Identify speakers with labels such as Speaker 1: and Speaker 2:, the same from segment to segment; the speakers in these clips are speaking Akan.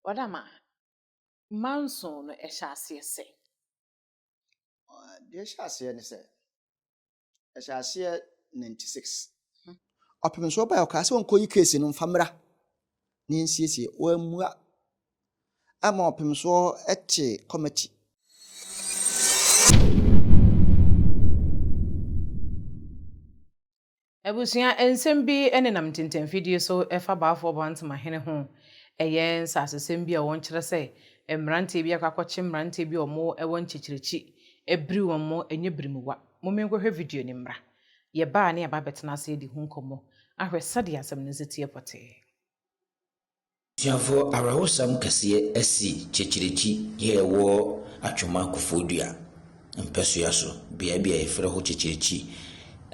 Speaker 1: Ɔda ma manso no ɛhyɛ aseɛ sɛ.
Speaker 2: Deɛ ɛhyɛ aseɛ ne sɛ ɛhyɛ aseɛ 96 ɔpemsoɔ baeɛ ɔkaa sɛ ɔnkɔyi keesi no mfa mmra na yɛnsiesie wammua Ama ɔpem soɔ te kɔmati.
Speaker 1: Abusua nsɛm bi nenam ntintɛmfidie so fa Baafoɔ Boantema hene ho. Ɛyɛ nsasesɛm bi a wɔn kyerɛ sɛ mmeranteɛ bi akɔ akɔkye mmeranteɛ bi a wɔn wɔ nkyekyerɛkyi. Abiri wɔn mo, ɛnyɛ birimuwa. Momi nkɔ hwɛ video no mmra. Yɛ ba a ne yɛ ba bɛtena ase adi ho nkɔmmɔ ahwɛ sɛdeɛ asɛm no nso teɛ pɔtee. Asuafoɔ
Speaker 3: awerɛhosɛm kɛseɛ asi Kyekyirikyi yɛ ɛwɔ Atwoma Kofoɔdua mpɛsoa so beaɛ bi a yɛfrɛ hɔ Kyekyirikyi.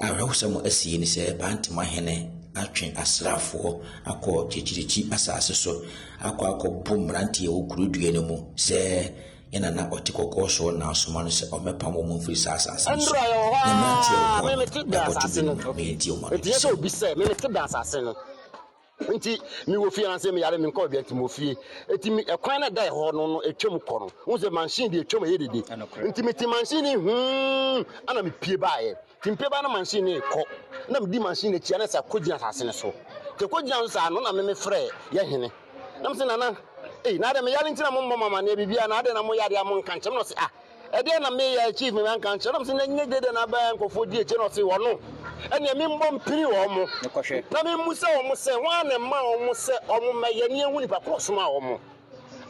Speaker 3: Awerɛhosɛm a asi yi ne sɛ Bantama hene atwe asraafoɔ akɔ Kyekyirikyi asaase so akɔ akɔ bo mmeranteɛ a ɛwɔ Kurodua no mu sɛ yɛn nana ɔte kɔkɔɔ soɔ na asoma no sɛ ɔmmɛpam wɔn mfiri saa asaase no so. Ɛnora yɛwɔ hɔ ara
Speaker 4: me mete da asaase no ok ɛteɛ sɛ obi sɛ me mete da asaase no. nti mewɔ fie anasɛ meyare me nkɔ bia nti mewɔ fie nti me ɛkwan no ɛda ɛhɔ no no ɛtwam kɔ no wohu sɛ mansin deɛ ɛtwam ɛyɛ dede nti mete mansin ne hum ana mepie baeɛ nti mepie ba no mansin ne kɔ na medi mansin n'akyi ana sɛ kɔgyina asase no so nti kɔgyina so saa no na meme frɛ yɛ hene na mesɛ nana ei na adɛ meyare nti na mommɔ mama ne biribiara na adɛ na moyare a monka nkyɛm na ɔse ah Ɛdeɛn na meyɛ achieve me nanka nkyerɛ nam sɛ na nyɛ gyedɛ na abɛn nkurɔfoɔ di akyire na ɔse wɔno ɛneɛ memmɔ mpini wɔn mo na memmu sɛ wɔn mo sɛ wɔn na ɛma wɔn mo sɛ wɔn mo mɛyɛ ne ɛhu nipa korɔ ɔsomaa wɔn mo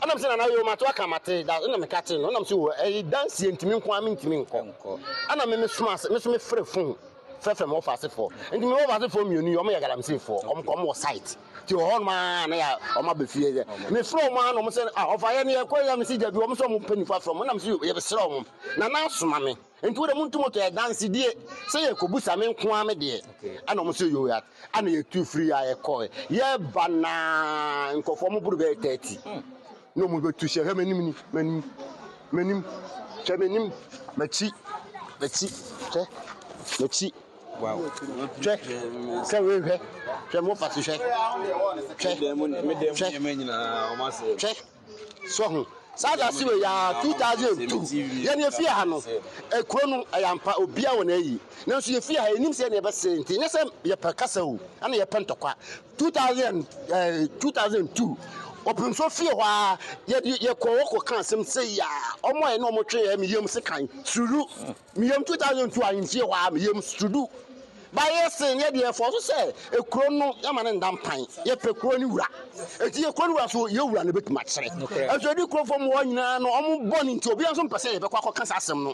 Speaker 4: ɛnam sɛ nana yoo mato aka mate da ɛna meka te no ɛnam sɛ wɔ ɛyi danseɛ ntimi nko a mentimi nkɔ ɛna me mesoma ase meso mefrɛ fon frɛfrɛ me wɔfa asefoɔ nti me wɔfa asefoɔ mmienu yi wɔn yɛ galamseyfoɔ wɔn kɔ wɔn wɔ site Ti wɔ hɔnom aa na yɛ ɔmo abɛ fie sɛ me frɛ ɔmo aa na ɔmo sɛ ah ɔfa yɛ ne yɛ kɔ yɛ me sɛ dabi ɔmo sɛ ɔmo pɛ nifa frɛ ɔmo na me sɛ yɛ bɛ srɛ ɔmo na na asoma me nti wo dɛ mo ntu mo tɔ yɛ danse die sɛ yɛ kɔ busa me nko aa me deɛ ɛna ɔmo sɛ yoo yɛ ɛna yɛ tu firi aa yɛ kɔ yɛ ba na nkɔfoɔ ɔmo boro bɛyɛ 30 na ɔmo bɛ tu hyɛ hwɛ m'anim ni m'anim m'anim hwɛ m'anim m'akyi m'akyi hwɛ m'akyi. Wow. Hwɛ, sɛ wohwɛ, hwɛ mo fa so hwɛ. Hwɛ, hwɛ, hwɛ, sɔ ho. Saa da se wɔ yɛ 2002 yɛn efi ha no ekuro no ɛyɛ ampa obia wɔ na ayi nanso yɛfi ha yɛnim sɛ ne yɛbɛsɛ nti nyɛ sɛ yɛpɛ kasa o ɛna yɛpɛ ntɔkwa 2000 ɛɛ 2002 ɔpemso fie hɔ a yɛde yɛkɔ wɔkɔ ka asɛm sɛ yɛ a wɔn a ɛne wɔn twe yɛ meyam se kan suru. Me yam 2002 a mfie hɔ a me yam studu ba yɛ sen yɛ deɛ ɛfɔ so sɛ ekuro no yɛma ne nda mpan yɛpɛ kuro ne wura eti yɛ kuro ne wura so yɛ wura na ebetumi akyerɛ ɛso edi kuro fam hɔ nyinaa no ɔmo bɔ ne nti obiara nso mpɛ sɛ yɛbɛkɔ akɔ kasa asɛm no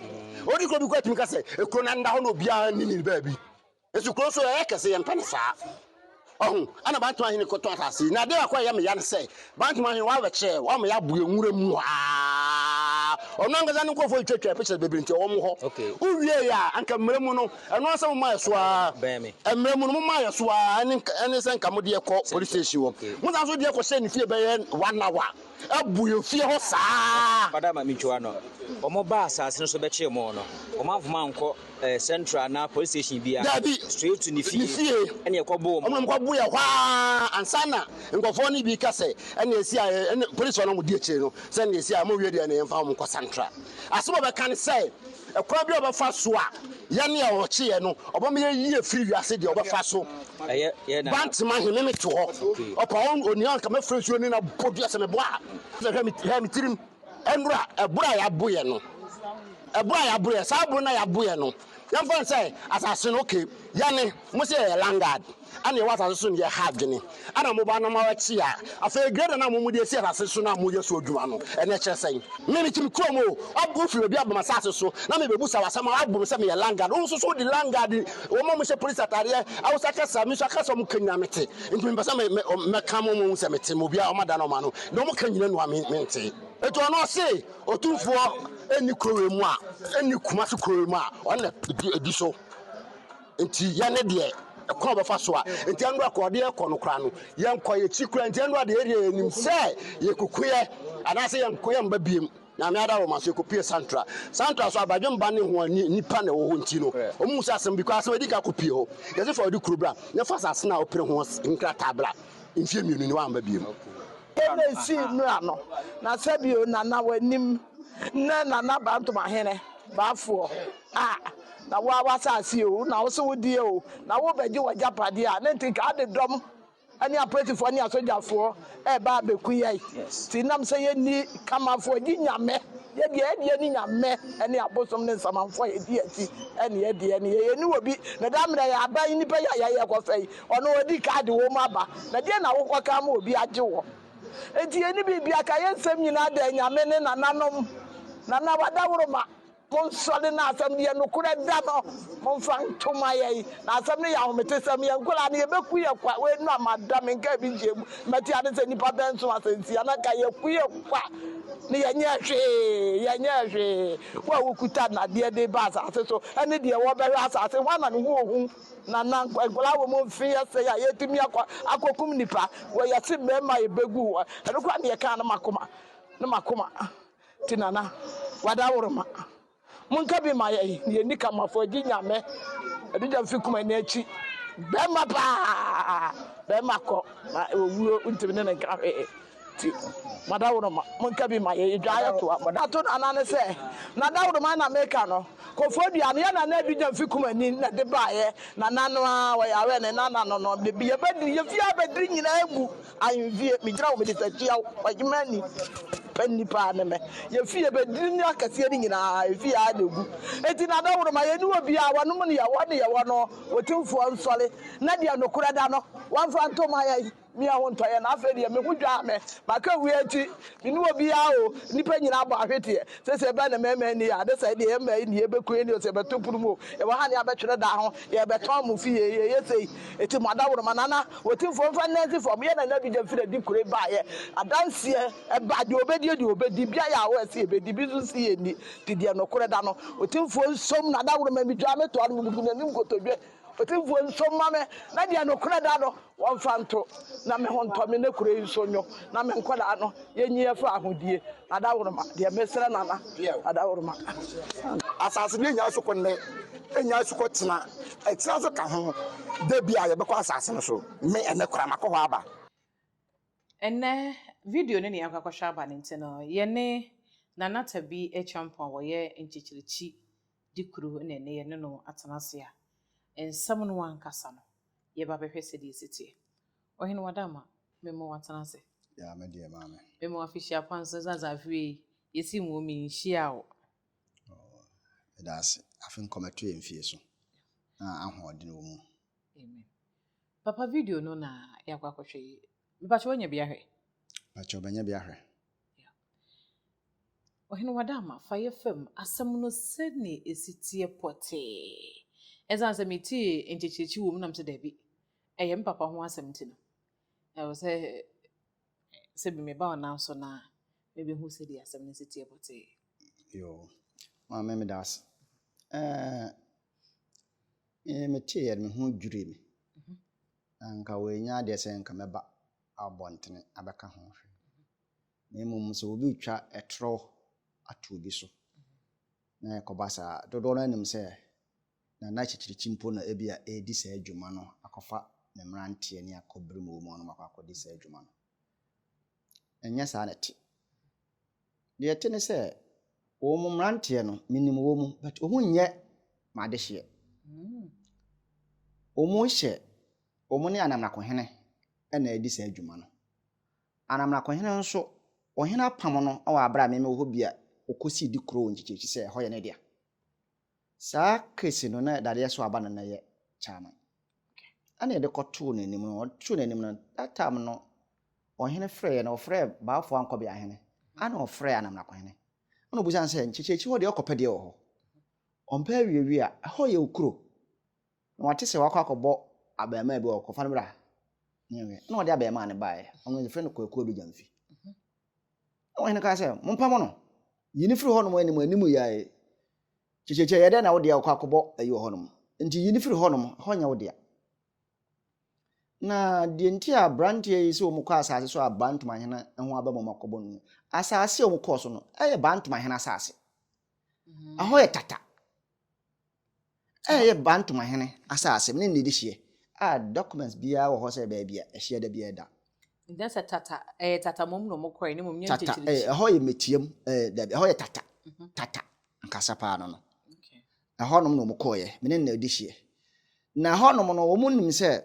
Speaker 4: odi kuro bi kɔ etumi kasa ekuro na nda hɔ na obiara ne ne baabi. Nanso kurow nso, ɛyɛ kɛse, yɛmmpɛ no saa. Wahu? Ɛnna Bantam Ahene kɔtɔɔ asase yi. Na ade baako a ɛyɛ me ya ne sɛ, Bantam Ahene, wɔabɛkyerɛ yɛn, wɔama yɛabu yɛn nwura mu ha ara. Ɔno ankasa ne nkurɔfo retwa twa pictures bebree nti ɔwɔ mo hɔ. Wowiei a, anka mmara mu no, ɛno ara sɛ momaa yɛn so ara. Mmara mu no, momaa yɛn so ara, ɛne sɛ anka mode yɛn kɔ police station hɔ. Mosan nso de yɛn kɔhyɛɛ ne fie bɛyɛ one hour. abu yɛn fie hɔ saa. Ɔda ma mentwa ano.
Speaker 5: Wɔn baa asase no so bɛkyee wɔn no, wɔn amfom ankɔ eh, central anaa police station biara. Dabi. Straight to ne fie. Ne fie. Ɛne ɛkɔ boo wɔn. Wɔn kɔ boo yɛ hɔ aa
Speaker 4: ansa na nkɔfoɔ no bi ka sɛ ɛne esi a ɛne police wɔn a wɔn di akyire no sɛ ɛne esi a wɔn wie deɛ ɛne yɛn fa wɔn kɔ central. Asɛm a ɔbɛka ne sɛ. Ɛkwan bi a ɔbɛfa so a yɛ ne a ɔkyeɛ no ɔbɛma yɛ yi afiri wiase deɛ ɔbɛfa so ba
Speaker 5: ntema he me me te hɔ
Speaker 4: ɔpa hɔ onua nka mɛfrɛ nsuo ne na bɔ dua sɛ mebɔ a sɛ hwɛ me hwɛ me tirim ɛnora ɛboro a yɛaboyɛ no ɛboro a yɛaboyɛ saa boro no a yɛaboyɛ no yɛmfa ne sɛ asase no okay yɛ ne Mo se yɛyɛ landard a nea ɛwɔ asase so no yɛ ha adwene a na moba na moabɛkye a afei grader no a mo mode asi asase so no a moyɛ so adwuma no ɛno ɛkyerɛ sɛn? Me mete me kurom oo, woabu firi baabi aba m'asase so na merebɛbusa wo asɛm a woabu me sɛ meyɛ landard, wo nso so wode landard wɔn a wɔhyɛ polisi ataadeɛ Hausa kasa me nso akasa a wɔka nyinaa mete nti mepɛ sɛ mɛka mo ma moahu sɛ mete ma obiara ɔmada no ɔmano deɛ wɔka nyinaa nua mentee. Enti ɔno ɔse Otumfoɔ nni kuro wei mu a, nni Kumasi kuro wei mu a ɔno na ɛdi so. Nti yɛ ne deɛ ɛkwan ɔbɛfa so a nti ɛno a kɔɔde ɛkɔ no koraa no yɛ nkɔ yɛ kyi koraa nti ɛno a deɛ ɛdeɛ yɛ nim sɛ yɛ kukuɛ anaasɛ yɛ nkɔ yɛ mba biem nyame ada wɔn aso yɛ kɔpie santra santra so abadwe mba ne ho ani nipa na ɛwɔ hɔ nti no wɔn mu sɛ asɛm bi kɔ asɛm ɛdi ka kɔpie hɔ yɛ sɛ fa ɔde kuro bra ne fa asase na ɔpere ho nkrataa bra mfie mmienu ne wamba biem. Ɛna
Speaker 6: ɛsii mmra no na sɛbio nana wanim ne nana bantoma hene baafoɔ A Na wo ara w'asase o, na wo se wo deɛ o, na worebɛgye w'agyapadeɛ a, na nti nka ade dɔm ne apolisifoɔ ne asogyafoɔ reba abɛku yɛn. Nti nam sɛ yɛnni Kamafoɔ gye Nyame, yɛdeɛ yɛdeɛ ne Nyame ne abosom ne nsamanfoɔ a yɛdi akyi ne yɛdeɛ ne yɛ, yɛnni wɔ bi. Na da mmerɛ yɛ aban nnipa yi a yɛayɛ rekɔfa yi, ɔno ɔdi kan de wɔn aba, na deɛ na wokɔka ama obi agye wɔ? Nti yɛnni biribiara, ka yɛn nsɛm nyinaa da Nyame ne nananom, Nana w'adaworoma. Monsɔre na asɛm no yɛ nokorɛ da no momfa nto ma yɛn na asɛm no yɛ ahometesɛm yɛn nkwadaa no yɛbɛku yɛn kwa wei no a mada menka bi nkyɛɛ mu mɛte ade sɛ nnipa bɛn so asɛntia na ka yɛku yɛn kwa ne yɛnyɛ hwee yɛnyɛ hwee wo a wokuta nnadeɛ de ba asase so ɛne deɛ wɔbɛhwɛ asase ho ana ne ho ohu na na nkwadaa wɔ mu mfe yɛsɛ a yɛtumi akɔ akɔkum nipa wɔ yɛse mmarima yɛbɛgu hɔ ɛno koraa ne yɛkaa no makoma no makoma Ti nana wada woro ma mo nka bi ma yɛn na yɛni ka mafo agyi nyame adugya mfi kuma ni akyi bɛrima paa bɛrima kɔ na owuo ntumi ne ne nka hwee ti mada woro ma mo nka bi ma yɛn yɛdwa yɛ toa mo da to nana ne sɛ nada woro ma na meka no kɔfoɔ dua no yɛ nana adugya mfi kuma ni na de baayɛ nana no a wɔyɛ awɛ ne nana no no yɛbɛdiri yɛfie abɛdiri nyinaa gu Ahenfie, megyina wo mede takyia wo Ɔhemmaa ni pɛ nnipa ne me Yɛ fie bɛ dini no akɛseɛ no nyinaa Ɛfie ara na ɛgu Enti n'adaworoma Yɛnni obiara Wɔnom no yɛwɔ ne yɛwɔ no Otumfoɔ nsɔre Na deɛ nokorɛ da no Wɔmfa nto ma yɛn Mia ho ntɔ yɛn Afei deɛ me ho dwaa me Maka awie akyi Me ne obiara o, nnipa nyinaa bɔ ahweteɛ sɛ sɛ ɛbɛn na mmarima nni a ne sɛ deɛ yɛ mmaa yi nni yɛbɛku yɛn deɛ sɛ yɛbɛto pono mu o, yɛwɔ ha ne abɛtwere da ho, yɛrebɛtɔn mo fie, yɛyɛ sei, enti mo adaworoma nana wɔtimfoɔ mfa nna nsi fam, yɛ nana Abigya firi adi kuro yi baeɛ adanseɛ ɛba deɛ ɔbɛdi yɛ deɛ ɔbɛdi, bi ayɛ awɔ ɛse yɛbɛdi bi nso nse yɛnni, nti deɛ nokorɛ da no, otimfoɔ nsom no adaworoma, medwaa metoa no mebubu n'anim nkotodwe. Otumfoɔ nso mma me na deɛ nokorɛ da no wɔmfa nto, na me ho ntɔ me na kuro yi nso nnwo, na me nkwadaa no yɛnyi afiri ahodie, Adaworoma, deɛ mesrɛ Nana Adaworoma. Asase
Speaker 4: no nnya asukɔ nnɛ, ɛnnya asukɔ kyena, akyire nso ka ho, da bi a yɛbɛkɔ asase no so, me ɛnnɛ koraa makɔ hɔ aba.
Speaker 1: Ɛnnɛ video no na yɛakɔ akɔhwɛ aba no nti no, yɛne Nana Tabi Acheampong a ɔyɛ Nkyekyerikyi de kuro na ɛnnɛ yɛne no atena ase a, nsɛm no ankasa no, yɛba bɛhwɛ sɛdeɛ ɛsi teɛ. Ɔhene Wadamma, mema wo atena ase. Yaa me deɛ maame.
Speaker 2: Mema wo afihyia kwan
Speaker 1: so sɛ sɛ afe wei yɛsi nwɔ mi nhyia wo. Oh, ɛda ase.
Speaker 2: Afe nkɔmɛto yɛ mfie so na ahoɔden wɔ mu. Amen.
Speaker 1: Papa video no na yɛakɔ akɔhwɛ yi. Mepakyɛ wanya bi ahwɛ? Pakyɛ ɔbɛnya bi
Speaker 2: ahwɛ.
Speaker 1: Ɔhene Wadamma, fa yɛ fam asɛm no sɛnea ɛsi teɛ pɔtee. Ɛsiane sɛ metee nkyekyerekye wɔ mu nam sɛ daabi, ɛyɛ me papa ho asɛm nti no, ɛwɔ sɛ sɛ bi meba wo nan so no a, mebɛhu sɛdeɛ asɛm no si teɛ pɔtee. Yo,
Speaker 2: maame meda ase. Ɛɛ, meteeɛ no, me ho dwirii me. Mhm. Anka wɔanya adeɛ sɛ nka mɛba abɔntene abɛka ho hwɛ. Na mmom sɛ obi retwa ɛtorɔ ato obi so na ɛkɔba saa a, dodoɔ no ara nim sɛ na n'akyirikyirikyi mpo na ebia ɛredi saa dwuma no akɔfa ne mmeranteɛ ne akɔbere mu wɔ mu a na wɔakɔ akɔdi saa dwuma no. Ɛnyɛ saa na ɛte. Deɛ ɛte ne sɛ wɔn mmeranteɛ no, menim wɔn mu but wɔn nyɛ m'adehyeɛ. Wɔhyɛ wɔn ne anamnakohene na ɛredi saa dwuma no. Anamnakohene nso, ɔhene apam no wɔ aberɛ a meme wɔ hɔ bi a ɔkɔsii di koroo nkyekyɛkyi sɛ ɛhɔ yɛ ne dea. Saa Kris no na dadeɛ so aba no na ɛyɛ kyaman ɛna yɛde kɔtoo n'anim no, ɔtoo n'anim no, that time no ɔhene frɛeɛ no ɔfrɛɛ Baafoɔ Ankɔbeahene ɛna ɔfrɛɛ Anamnakohene ɛna ɔbisaa no sɛ nkyekyɛkyi hɔ deɛ ɔkɔpɛ deɛ wɔ hɔ? Ɔmpɛ awiawie a ɛhɔ yɛ wo kuro? Na wɔte sɛ wɔakɔ akɔbɔ abarimaa bi wɔ hɔ, kɔfa no bra. Ɛnna wɔde abarimaa no baeɛ. Wɔfrɛ no Kwaku Ɔdɔgyamfi. Na ɔhene kaa sɛ, Mompamo no. Yi no firi hɔnom anim anim yi ara yi. Kyekyekyɛ yɛ dɛn na wo deɛ wokɔ akɔbɔ ayi wɔ hɔnom? Enti yi no firi hɔnom, ɛhɔ nyɛ wo dea. Na deɛ nti a aberanteɛ yi sɛ wɔkɔ asase so a Bantomahene ho aba mu ma kɔbɔ no, asase a wɔkɔɔ so no, ɛyɛ Bantomahene asase. Ɛhɔ yɛ tata. a ɛyɛ Bantama hene asase ne ne dehyeɛ a documents biara wɔ hɔ sɛ baabi a ɛhyeɛ da biara da.
Speaker 1: Ɛnyɛ sɛ Tata, ɛyɛ Tata mmom na wɔn kɔɛ, na mmom nyɛ Nkyekyerekye. Tata, eh, ɛhɔ yɛ
Speaker 2: Metiam, eh, dabi, ɛhɔ yɛ Tata, mhm. Tata, nkasa paa no no. Okay. Ɛhɔ
Speaker 1: nom na wɔn
Speaker 2: kɔɛ, mene na dehyeɛ. Na ɛhɔ nom no, wɔn nim sɛ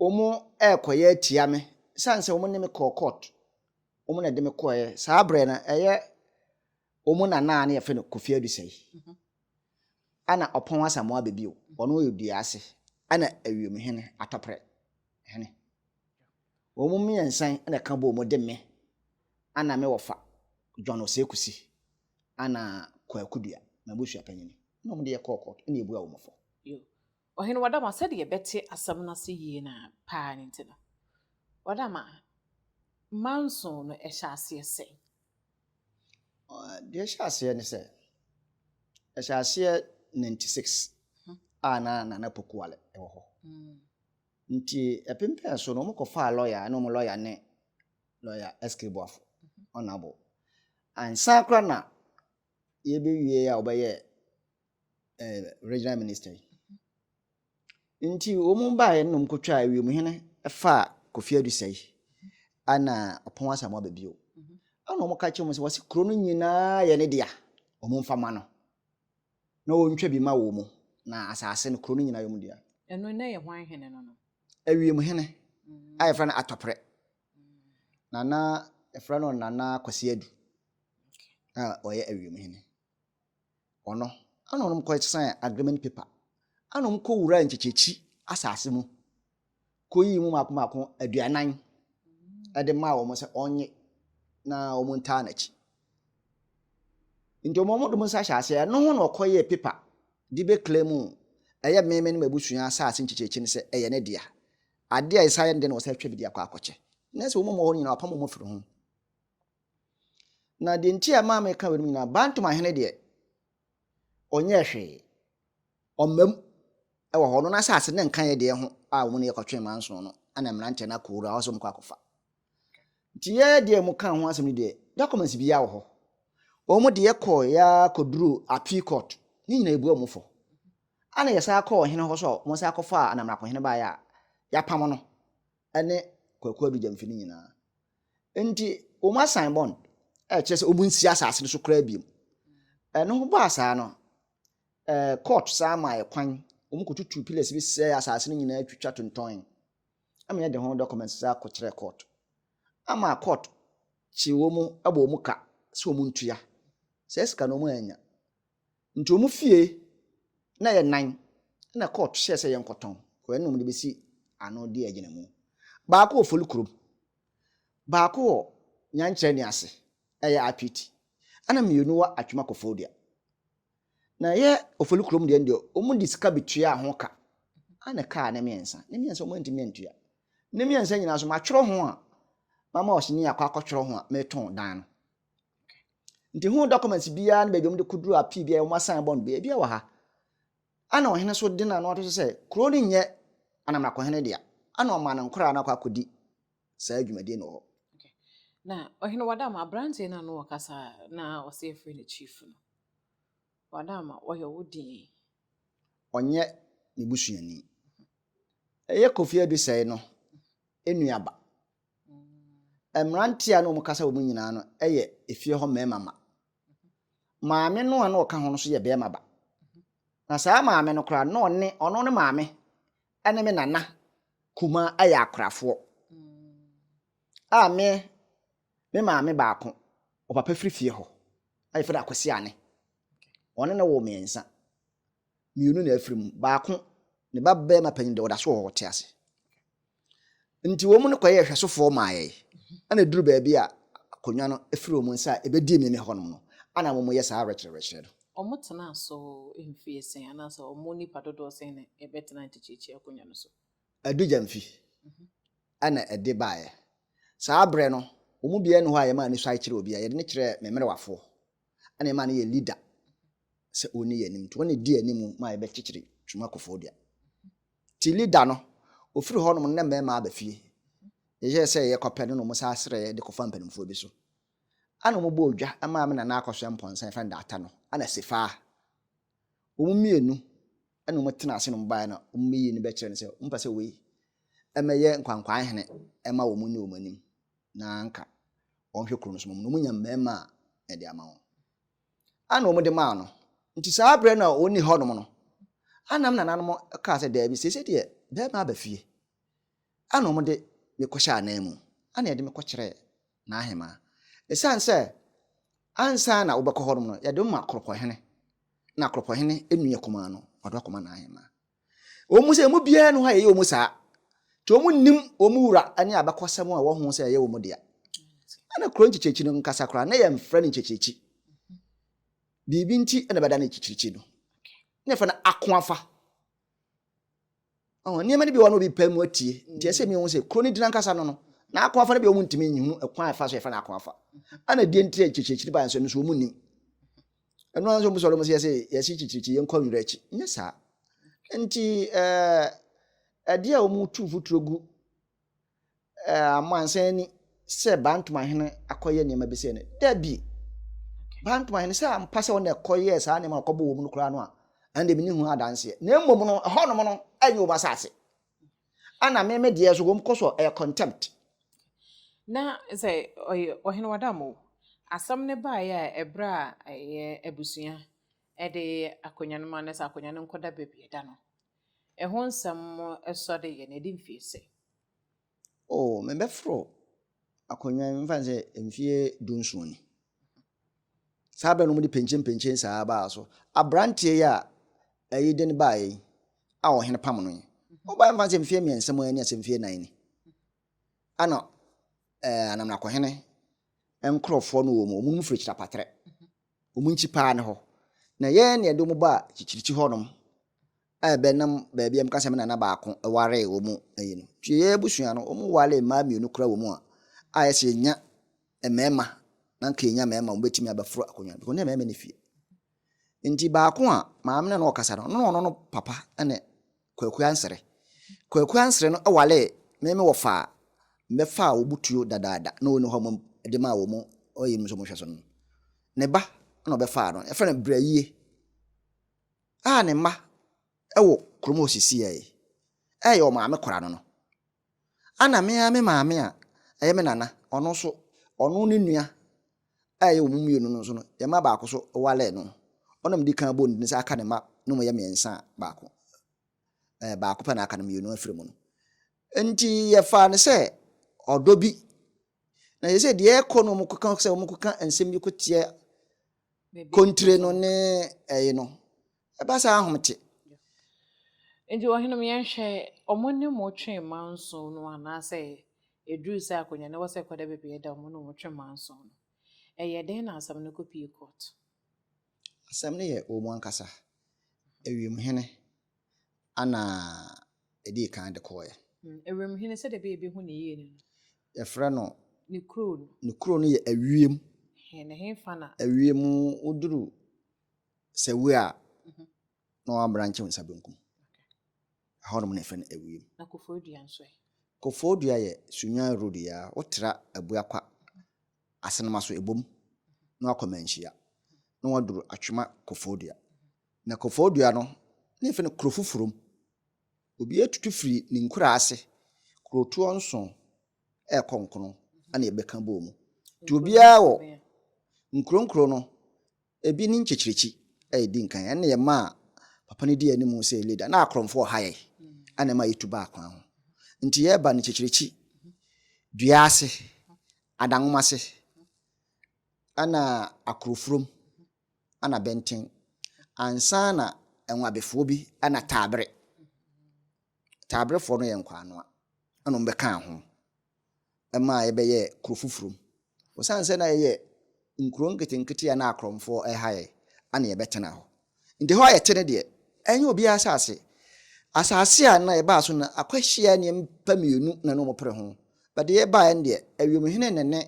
Speaker 2: wɔn ɛrekɔyɛ atia me, sane sɛ wɔn ne me kɔɔ court, wɔn na ɛde me kɔɛ. Saa berɛ no, ɛyɛ Wɔn nana a na yɛfrɛ no Kofi Adusei na ɔpɔn Asamoah Abebio. Ɔno yɛ dua ase na ewiem hene, atɔprɛ hene. Wɔn mmiɛnsa yi na ɛka bɔɔ mu de me na me wɔfa John Osei Kusi na Kwaku Dua, m'abusuapanyin, na wɔn de yɛkɔɔ kɔɔto na yɛbuaa wɔn fɔ.
Speaker 1: Ɔhene Wardama, sɛdeɛ yɛbɛte asɛm no ase yie no ara paa no nti no, Wardama, mma nson no hyɛ aseɛ sɛn?
Speaker 2: Deɛ ɛhyɛ aseɛ ne sɛ, ɛhyɛ aseɛ 96 a na Nana Pokuale wɔ hɔ. Nti ɛpem pɛn so no, wɔkɔfaa lɔya, ɛne wɔn lɔya ne lɔya SK Boafo, Honourable. Ansa koraa na yɛbɛwie a wɔbɛyɛ regional minister yi. Nti wɔn baeɛ no na wɔkɔtwaa wiemhene faa Kofi Adusei ɛna Ɔpɔn Asamoah aba bio. Mhm. Ɛna wɔka kyerɛ wɔn sɛ wɔsi kuro no nyinaa yɛ ne dea wɔn mfa ma no na wɔntwa bi ma wɔn na asase no kuro no nyinaa yɛ wɔn dea. Ɛno na yɛ hwan hene
Speaker 1: no no? Awiemhene
Speaker 2: mm. a yɛfrɛ no Atɔprɛ. Mm. Nana yɛfrɛ no Nana Kwasi Adu a ɔyɛ awiemhene. Hɔ no, ana wɔn kɔsɛn agreement paper, ana wɔn kɔ wuraa nkyekyɛkyi asase mu, kɔ yii mu mako mako aduanan ɛde maa wɔn sɛ ɔnye na wɔn ntaa n'akyi. Nti wɔn de wɔn nsa hyɛ aseɛ, ɛno ho na ɔkɔ yɛɛ paper de bɛ kila mu, ɛyɛ mmɛmɛ no abusua asase nkyekyɛkyi no sɛ ɛyɛ ne dea. Adeɛ a ɛsan yɛ ne dɛ na wɔsan atwa bi de akɔ akɔkyɛ. Na sɛ wɔn mu hɔ nyinaa wɔapam wɔn afiri ho. Na deɛ nti a ɛmaa meka wei no nyinaa, Bantom ahene deɛ, ɔnyɛɛ hwee. Ɔmmam wɔ hɔ no n'asase ne nkaeɛ deɛ ho a wɔn ne yɛkɔtwe manson no na mmeranteɛ no akɔwura hɔ sɛ wɔkɔ akɔfa. Nti yɛ deɛ mu ka ho asɛm no deɛ, documents biara wɔ hɔ. Wɔn deɛ kɔɔ yɛ akɔduru appeal court ne nyinaa ebu wɔn fɔ. Ana yɛsan kɔɔ ɔhene hɔ sɛ wɔsan akɔfa anamrakohene baeɛ a yɛapam no. ne Kwaku Adu Gyamfi no nyinaa. Nti wɔn asan bond a ɛkyerɛ sɛ wɔn nsi asase no so koraa biom. Ɛno ho baa saa no, eh, court saa ma yɛ kwan, wɔn kɔtutu pillars bi sɛ asase no nyinaa twitwa tontɔn. Ama yɛde ho documents saa kɔkyerɛ court. Ama court kye wɔn bɔ wɔn ka sɛ wɔn ntua. Saa sika no wɔn annya. Nti ɔmo fie na yɛ nan na court hyɛɛ sɛ yɛnkɔ tɔn kɔ ɛna ɔmo de bɛsi ano de agyina mu. Baako wɔ Foli kurom, baako wɔ Nyankyerɛ ne ase ɛyɛ Apiti ɛna mmienu wɔ Atwima Kofodua. Na ɛyɛ Ofoli kurom deɛ no deɛ ɔmo de sika bɛtuaa ho ka ɛna ɛkaa ne mmiɛnsa. Ne mmiɛnsa ɔmo antumi antua. Ne mmiɛnsa nyinaa nso matwerɛ ho a mama ɔsini akɔ akɔtwerɛ ho a metɔn dan no. Nti ho documents biara ne baabi a wɔde koduru appeal biara wɔn asan bɔ no biara ebiara wɔ ha. Ana ɔhene nso de n'ano ato so sɛ kuro no nyɛ anamrakɔhene dea. Ana ɔmaa ne nkoraa no akɔ akɔdi saa dwumadie no wɔ hɔ. Na
Speaker 1: ɔhene Wadama aberanteɛ no ano ɔkasa na ɔsɛ yɛfrɛ no chief no. Wadama ɔyɛ wo din. Ɔnyɛ
Speaker 2: me busuani. Ɛyɛ Kofi Adusɛe no enuaba. Mmerante a na wɔka sɛ wɔn nyinaa no yɛ efie hɔ mmarima mma. Maame no a na ɔka ho no nso yɛ barima ba. Na saa maame no koraa na ɔne ɔno ne maame ne me nana kumaa yɛ akorafoɔ a me me maame baako, ɔpapa firi fie hɔ a yɛfrɛ no Akwasi Ane. Ɔne no woo mmiɛnsa. mmienu na afiri mu. Baako, ne ba barima panyin deɛ ɔda so wɔ hɔ, ɔte ase. Nti wɔn no kɔyɛɛ hwɛsofoɔ maa yɛn. Ɛna ɛduru baabi a akonnwa no firi wɔn nsa a ɛbɛdi meme hɔ nom no, ɛna wɔyɛ saa awerɛkyerɛwerɛkyerɛ no. Wɔtenaa so
Speaker 1: mfeɛ sɛn, anaasɛ wɔn nnipa dodoɔ sɛn na ɛbɛtenaa ntekyerɛkyerɛ akonnwa no so? Adu Gyamfi
Speaker 2: ɛna ɛde baeɛ. Saa berɛ no, wɔn mu biara nni hɔ a yɛmaa no suae kyerɛɛ obiara. Yɛde no kyerɛɛ me mmerewafoɔ, ɛna yɛmaa no yɛɛ leader sɛ ɔnni yɛn anim nti ɔne di anim ma yɛbɛkyekyere twuma kɔfoɔ dua ti lida no ɔfiri hɔ nom ne mmarima aba fie yɛyɛ sɛ yɛ kɔpɛ no na ɔmo saa serɛ yɛ de kɔfa mpanimfoɔ bi so ana ɔmo bɔ odwa ɛmaa me nana akɔsoɛ mpɔnsa yɛfrɛ no daata no ana sifaa ɔmo mmienu ɛna ɔmo tena ase na ɔmo baeɛ na ɔmo bɛyi no bɛkyerɛ no sɛ ɔmo pɛ sɛ wei ɛmɛyɛ nkwankwaa hene ɛma wɔn ne wɔn anim na anka wɔn hwɛ kuro no so na wɔn nya mmarima a ɛde ama wɔn. a na wɔde maa no. Enti saa berɛ no a ɔnni hɔnom no, a na me nananom kaa sɛ, Daabi, seesei deɛ barima aba fie, a na wɔde me kɔhyɛɛ ananmu, a na wɔde me kɔkyerɛɛ n'ahemaa. Ɛsiane sɛ ansa na wobɛkɔ hɔnom no, wɔde wo ma koropɔhene, na koropɔhene nua kumaa no, wɔde wo akɔma n'ahemaa. Ɛwɔ mu sɛ emu biara nni hɔ a ɛyɛ wɔn saa, nti wɔnnim wɔn wura ne abakɔsɛm a ɛwɔ ho sɛ ɛyɛ wɔn dea. Ɛna kuro nkyekyerekyi no nkasa koraa na yɛmfrɛ no nkyekyerekyi. Biribi nti na ɛbɛda no nkyekyerekyi no. Na yɛfrɛ no akoafa. Ɔhɔ, nneɛma no bi wɔ no obi pɛ mu atie. Nti ɛsɛ mi wɔn sɛ kuro no din ankasa no no, na akoafa no bi wɔn ntumi nhunu ɛkwan a ɛfa so yɛfrɛ no akoafa. Ɛna deɛ nti a nkyekyerekyi no baeɛ nso ɛno nso wɔn nnim. ɛno ara nso ɔmo sɔre ɔmo sɛ yɛsɛ yɛsi kyikyirikyi yɛn kɔ wira akyi nyɛ saa nti ɛɛ ɛdeɛ a ɔmo tu futuro gu ɛɛ amansan ani sɛ bantomahene akɔyɛ nneɛma bi sɛ no dabi bantomahene sɛ ampa sɛ ɔna ɛkɔyɛ saa nneɛma ɔkɔbɔ wɔn no koraa no a ɛnna mi ne ho adanseɛ na mmom no ɛhɔnom no ɛnyɛ wɔn asase Ana me me deɛ so wɔn kɔ so ɛyɛ contempt. Na
Speaker 1: sɛ ɔyɛ ɔhene wadam o asɛm no baeɛ a ɛberɛ a ɛyɛ abusua ɛde akonnwa no ma no sɛ akonnwa no nkɔda baabi ɛda no ɛho nsɛm ɛsɔ de yɛ na ɛdi mfie sɛ. O mebɛforo
Speaker 2: akonnwa yi mfa sɛ mfie du nson ni. Saa bɛ no wɔde penkyenpenkyen saa baa so. Aberanteɛ yi a ɛyi de no baeɛ yi a ɔhene pam no yi, ɔbaeɛ mfa sɛ mfeɛ mmiɛnsa mu ani asɛ mfeɛ nan ni. Ana ɛɛ anamnakohene nkorɔfoɔ no wɔ mu, wɔn mu firi Kyilapatrɛ. Wɔn nkyi paa ne hɔ. Na yɛn na yɛde wɔn baa Kyikyirikyi hɔnom a ɛbɛnam baabi a meka sɛ me nana baako waree wɔn ayi no nti yɛn abusua no wɔn waree mmaa mmienu kora wɔn mu a a yɛsɛ yɛnya mmarima na nka yɛnya mmarima wɔn bɛtumi abɛforo akonnwa no wɔn ne mmarima ne fie nti baako a maame na no ɔkasa no ɔno ɔno no papa ne kwaku ansere kwaku ansere no waree meme wɔfa a mbɛfa a wɔbutuo dadaada na wɔn hɔ wɔn de maa wɔn ɔyɛ mu nso wɔn hwɛ so no ne ba na ɔbɛfa no ɛfɛ no brɛ yie a ne mma wɔ kurom a ɔsisiiɛ yi, ɛyɛ ɔmaame kora no no. Ana me ara me maame a ɛyɛ me nana, ɔno nso, ɔno ne nua a ɛyɛ wɔn mmienu no nso no, yɛn mma baako so waree no. Ɔna medi kan bɔ ne din sɛ aka ne mma no mu yɛ mmiɛnsa a baako, ɛɛ baako pɛ na aka no mmienu afiri mu no. Nti yɛfaa no sɛ ɔdɔ bi. Na yɛ sɛ deɛ ɛrekɔ no wɔkɔka sɛ wɔkɔka nsɛm bi kɔteɛ Kontire no ne ɛyi no. Ɛba saa ahom te.
Speaker 1: Nti ɔhene mu yɛnhwɛ ɔmo ne mo twe mma nson no anaasɛ ɛduru sɛ akonnwa no wɔ sɛ ɛkɔda baabi a ɛda ɔmo ne mo twe mma nson no ɛyɛ dɛn na asɛm no kɔpie kɔɔto?
Speaker 2: Asɛm no yɛ wɔ mu ankasa. Ewiem hene Ana edii kan de kɔɔɛ. Ewuram hene sɛdeɛ
Speaker 1: ɛbɛyɛ ebehu ne yie no. Yɛfrɛ no.
Speaker 2: Ne kuro
Speaker 1: no. Ne kuro no yɛ ewiem.
Speaker 2: He na hefa
Speaker 1: na. Ewiem woduru
Speaker 2: Sewue a. Na wabrankye wo nsa benkum. Ɛhɔnom na yɛfrɛ no ewiem. Na Koforidua nso
Speaker 1: ɛ. Koforidua yɛ
Speaker 2: Sunyani road yi ara wotra Abuakwa Asenemaso ebom na wakɔ Manhyia na waduru Atwema Koforidua. Na kɔfɔɔ dua no, na yɛfrɛ no Kurofoforom. Obiara tutu firi ne nkuraa ase, kurotoɔ nson rekɔ nkron na yɛbɛka bɔɔ mu. Nti obiara wɔ nkuro nkuro no, ebi ne nkyekyerɛkyi a yɛdi nkan. Ɛno na yɛmaa papa no dii anim sɛ leader. Na akorɔmfoɔ ɔha yɛn a na ɛma yɛtu baa kwan ho. Nti yɛba no nkyekyerɛkyi, dua ase, adanwoma ase, ɛna akuroforom. na bɛnten ansaana Nwabefoɔ bi na Taabre. Taabrefoɔ no yɛ Nkwanoa na wɔn bɛkaa ho maa yɛbɛyɛɛ kuro foforɔ mu. Osiane sɛ na yɛyɛ nkuro nketenkete a na akorɔmfoɔ ɛha yɛn na yɛbɛtena hɔ. Nti hɔ a yɛte no deɛ ɛnyɛ obiara asase. Asase a na yɛbaa so no akwahyia nnipa mmienu na na wɔpere ho. But deɛ yɛbaeɛ no deɛ Awiemhene na ne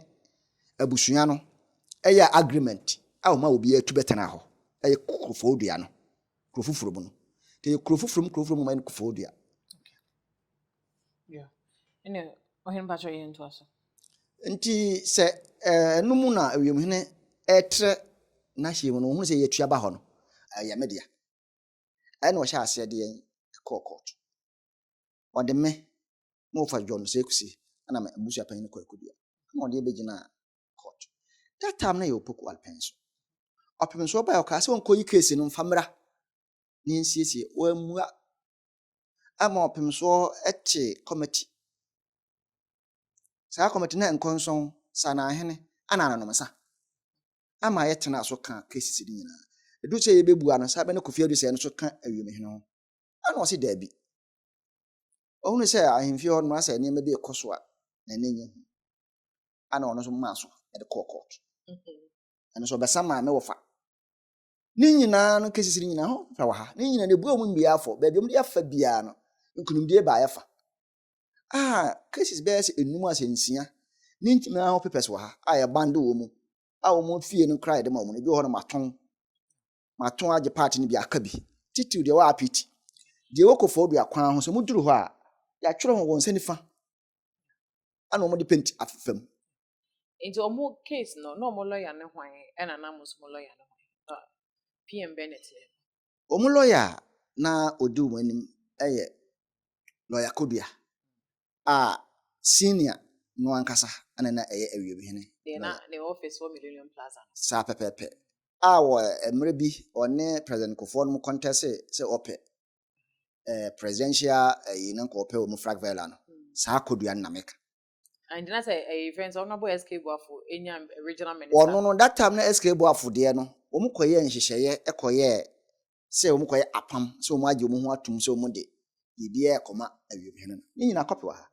Speaker 2: Abusua no yɛɛ agreement a wɔmaa obiara tu bɛtenaa hɔ. Ɛyɛ kurofoo dua no, kuro foforɔ mu no. Nti ɛyɛ kuro foforɔ mu kuro foforɔ mu ma ɛyɛ no kurofoo dua. Yeah.
Speaker 1: Ɛnna ɔhene mpakyɛ yɛn ntoa so. Nti
Speaker 2: sɛ ɛno mu na awiemhene ɛtrɛ n'ahyeɛ mu no, wɔhunu sɛ yɛtua ba hɔ no, ɛyɛ me dea. Ɛnna ɔhyɛ aseɛ de yɛn kɔɔ kɔɔto. ɔde me na ɔfa John Sekusi ɛna me abusua panyin Kwaku Dua ɛna ɔde yɛ bɛgyinaa court. That time na yɛ Opoku Alpen so. Ɔpem nso ɔbae ɔkaa sɛ ɔnkɔyi case no mfa mmra na yɛnsiesie. Wammua. Ama ɔpem so ɛte committee. Saa committee na nkɔnsɔn, sanahene, ɛna anonomsa. Ama yɛtenaa so kaa cases no nyinaa. Ɛduru sɛ yɛbɛbua no, saa bɛ na Kofi Adusɛ no so ka awiemhene ho. Ɛna ɔse daabi. Ɔhunu sɛ ahemfie hɔ nom asɛ nneɛma bi rekɔ so a na ne nyɛ hu. Ɛna ɔno nso maa so de kɔɔ court. Ɛno nso ɔbɛsa maa me wɔfa. Ne nyinaa no cases no nyinaa ho fa wɔ ha. Ne nyinaa no ebua wɔn mmea afɔ. Baabi wɔn de afa biara no nkunimdie baa yɛfa. A cases bɛyɛ sɛ enum asɛ nsia ne nyinaa ho papers wɔ ha a yɛbande wɔn mu a wɔn fie no koraa yɛde ma wɔn. Ebi wɔ hɔ nom atɔn. mato agye part no bi aka bi, titiriw deɛ ɛwɔ Apiti, deɛ ɛwɔ Koforidua kwan ho. Sɛ moduru hɔ a, yɛatwerɛ ho wɔ nsa nifa, ɛna wɔde penti afefa mu. Nti
Speaker 1: ɔmo case no na ɔmo lɔya ne hwan ɛna na mo nso mo lɔya ne hwan na PM Bennett ne. Ɔmo lɔya
Speaker 2: a na ɔdi wɔn anim yɛ lɔya Kodua a senior no ankasa na na ɛyɛ awiemhene no wɔ. Ne office wɔ
Speaker 1: Millennium Plaza no. Saa pɛpɛɛpɛ.
Speaker 2: A wɔ mmerɛ bi ɔne President Kufuor no conteste sɛ ɔpɛ eh, presidential ayi no nka ɔpɛ wɔ mu Frag Vella no, saa kɔdua no na meka. Nti na sɛ
Speaker 1: ɛyɛ fɛn sɛ Honourable SK Boafo nya regional minister. Ɔno no that time na SK
Speaker 2: Boafo deɛ no wɔn kɔyɛɛ nhyehyɛeɛ kɔyɛɛ sɛ wɔkɔyɛ apam, sɛ wɔagye wɔn ho atom sɛ wɔde biribiara rekɔma awiemhene no. Ne nyinaa kɔpe wɔ ha.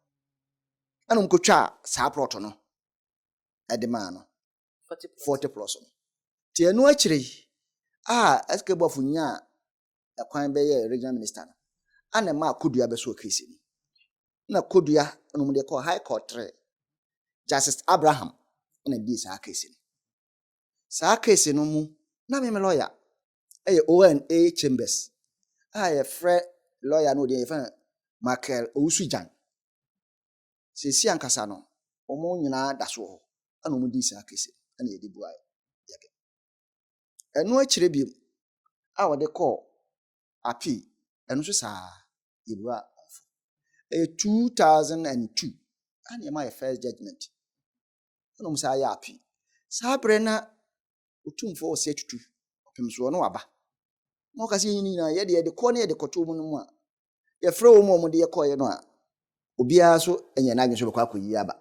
Speaker 2: Ɛna wɔkɔtwaa saa plɔt no de maa no. Forte Plɔs no. Nti ɛno akyire yi a SK Boafo nyaa ɛkwan bɛyɛɛ Regional Minister no, ɛna ɛmaa Kodua bɛsɔɔ case no. Ɛna Kodua na wɔde kɔɔ High Court trɛɛ. Justice Abraham na dii saa case no. Saa case no mu, na me me lawyer yɛ Owen A. Chambers a yɛfrɛ lɔya no din yɛfrɛ no Michael Owusu-Gyan. Seesei ankasa no, wɔn nyinaa da so wɔ hɔ ɛna wɔdii saa kese ɛna yɛde buaeɛ. Yɛde. Ɛno akyire bio a wɔde kɔɔ apii ɛno nso saa yɛbua wɔn fo. Ɛyɛ 2002 ɛna yɛma yɛ first judgment ɛna wɔn saa yɛ apii. Saa berɛ na Otumfoɔ ɔse atutu ɔpem soɔ ne waba na ɔka sɛ yɛn nyinaa yɛ deɛ yɛde kɔɔ ne yɛde kɔtoo mu no mu a yɛfrɛ wɔn a wɔde yɛ kɔeɛ no a obiara so nyɛ n'adwene sɛ ɔbɛkɔ akɔyi aba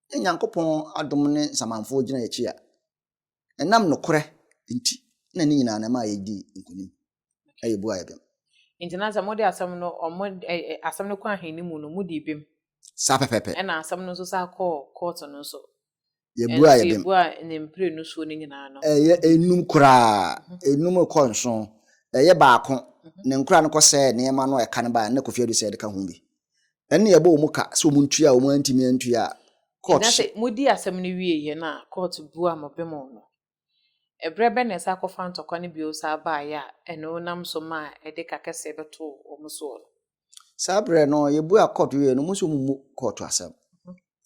Speaker 2: na Nyankopɔn adom ne nsamanfoɔ gyina yɛn akyi a ɛnam nokorɛ nti na ne nyinaa na ɛma yɛdi nkonim. na yɛbua yɛ bem. Nti na sɛ mode
Speaker 1: asɛm no ɔmo ɛ ɛ asɛm no kɔ ahenni mu no, modi bem. Saa pɛpɛɛpɛ.
Speaker 2: Ɛna asɛm no nso san
Speaker 1: kɔɔ kɔɔto no nso. Yɛbua yɛ
Speaker 2: bem. Ɛnso yɛbua ne mprenu
Speaker 1: soɔ no nyinaa no. Ɛyɛ enum koraa,
Speaker 2: enum rekɔ nson. Ɛyɛ baako, ne nkoraa no kɔsɛɛ nneɛma no a ɛka no baeɛ no, na Kofi Adu sɛ yɛdeka ho bi. Ɛnna yɛbɔ wɔn ka sɛ wɔn ntua a wɔn antumi antua a, kɔɔto Nti na sɛ modi asɛm
Speaker 1: no wieeɛ no a, kɔɔto bua mo bem no. Ɛberɛ bɛn na ɛsan kɔfaa ntɔkwa no bio saa baeɛ a ɛno nam so maa ɛde ka kɛseɛ bɛtoo wɔn soɔ no? Saa berɛ
Speaker 2: no, yɛbuaa kɔɔto wieeɛ no, wɔn nso wɔmmu kɔɔto asɛm.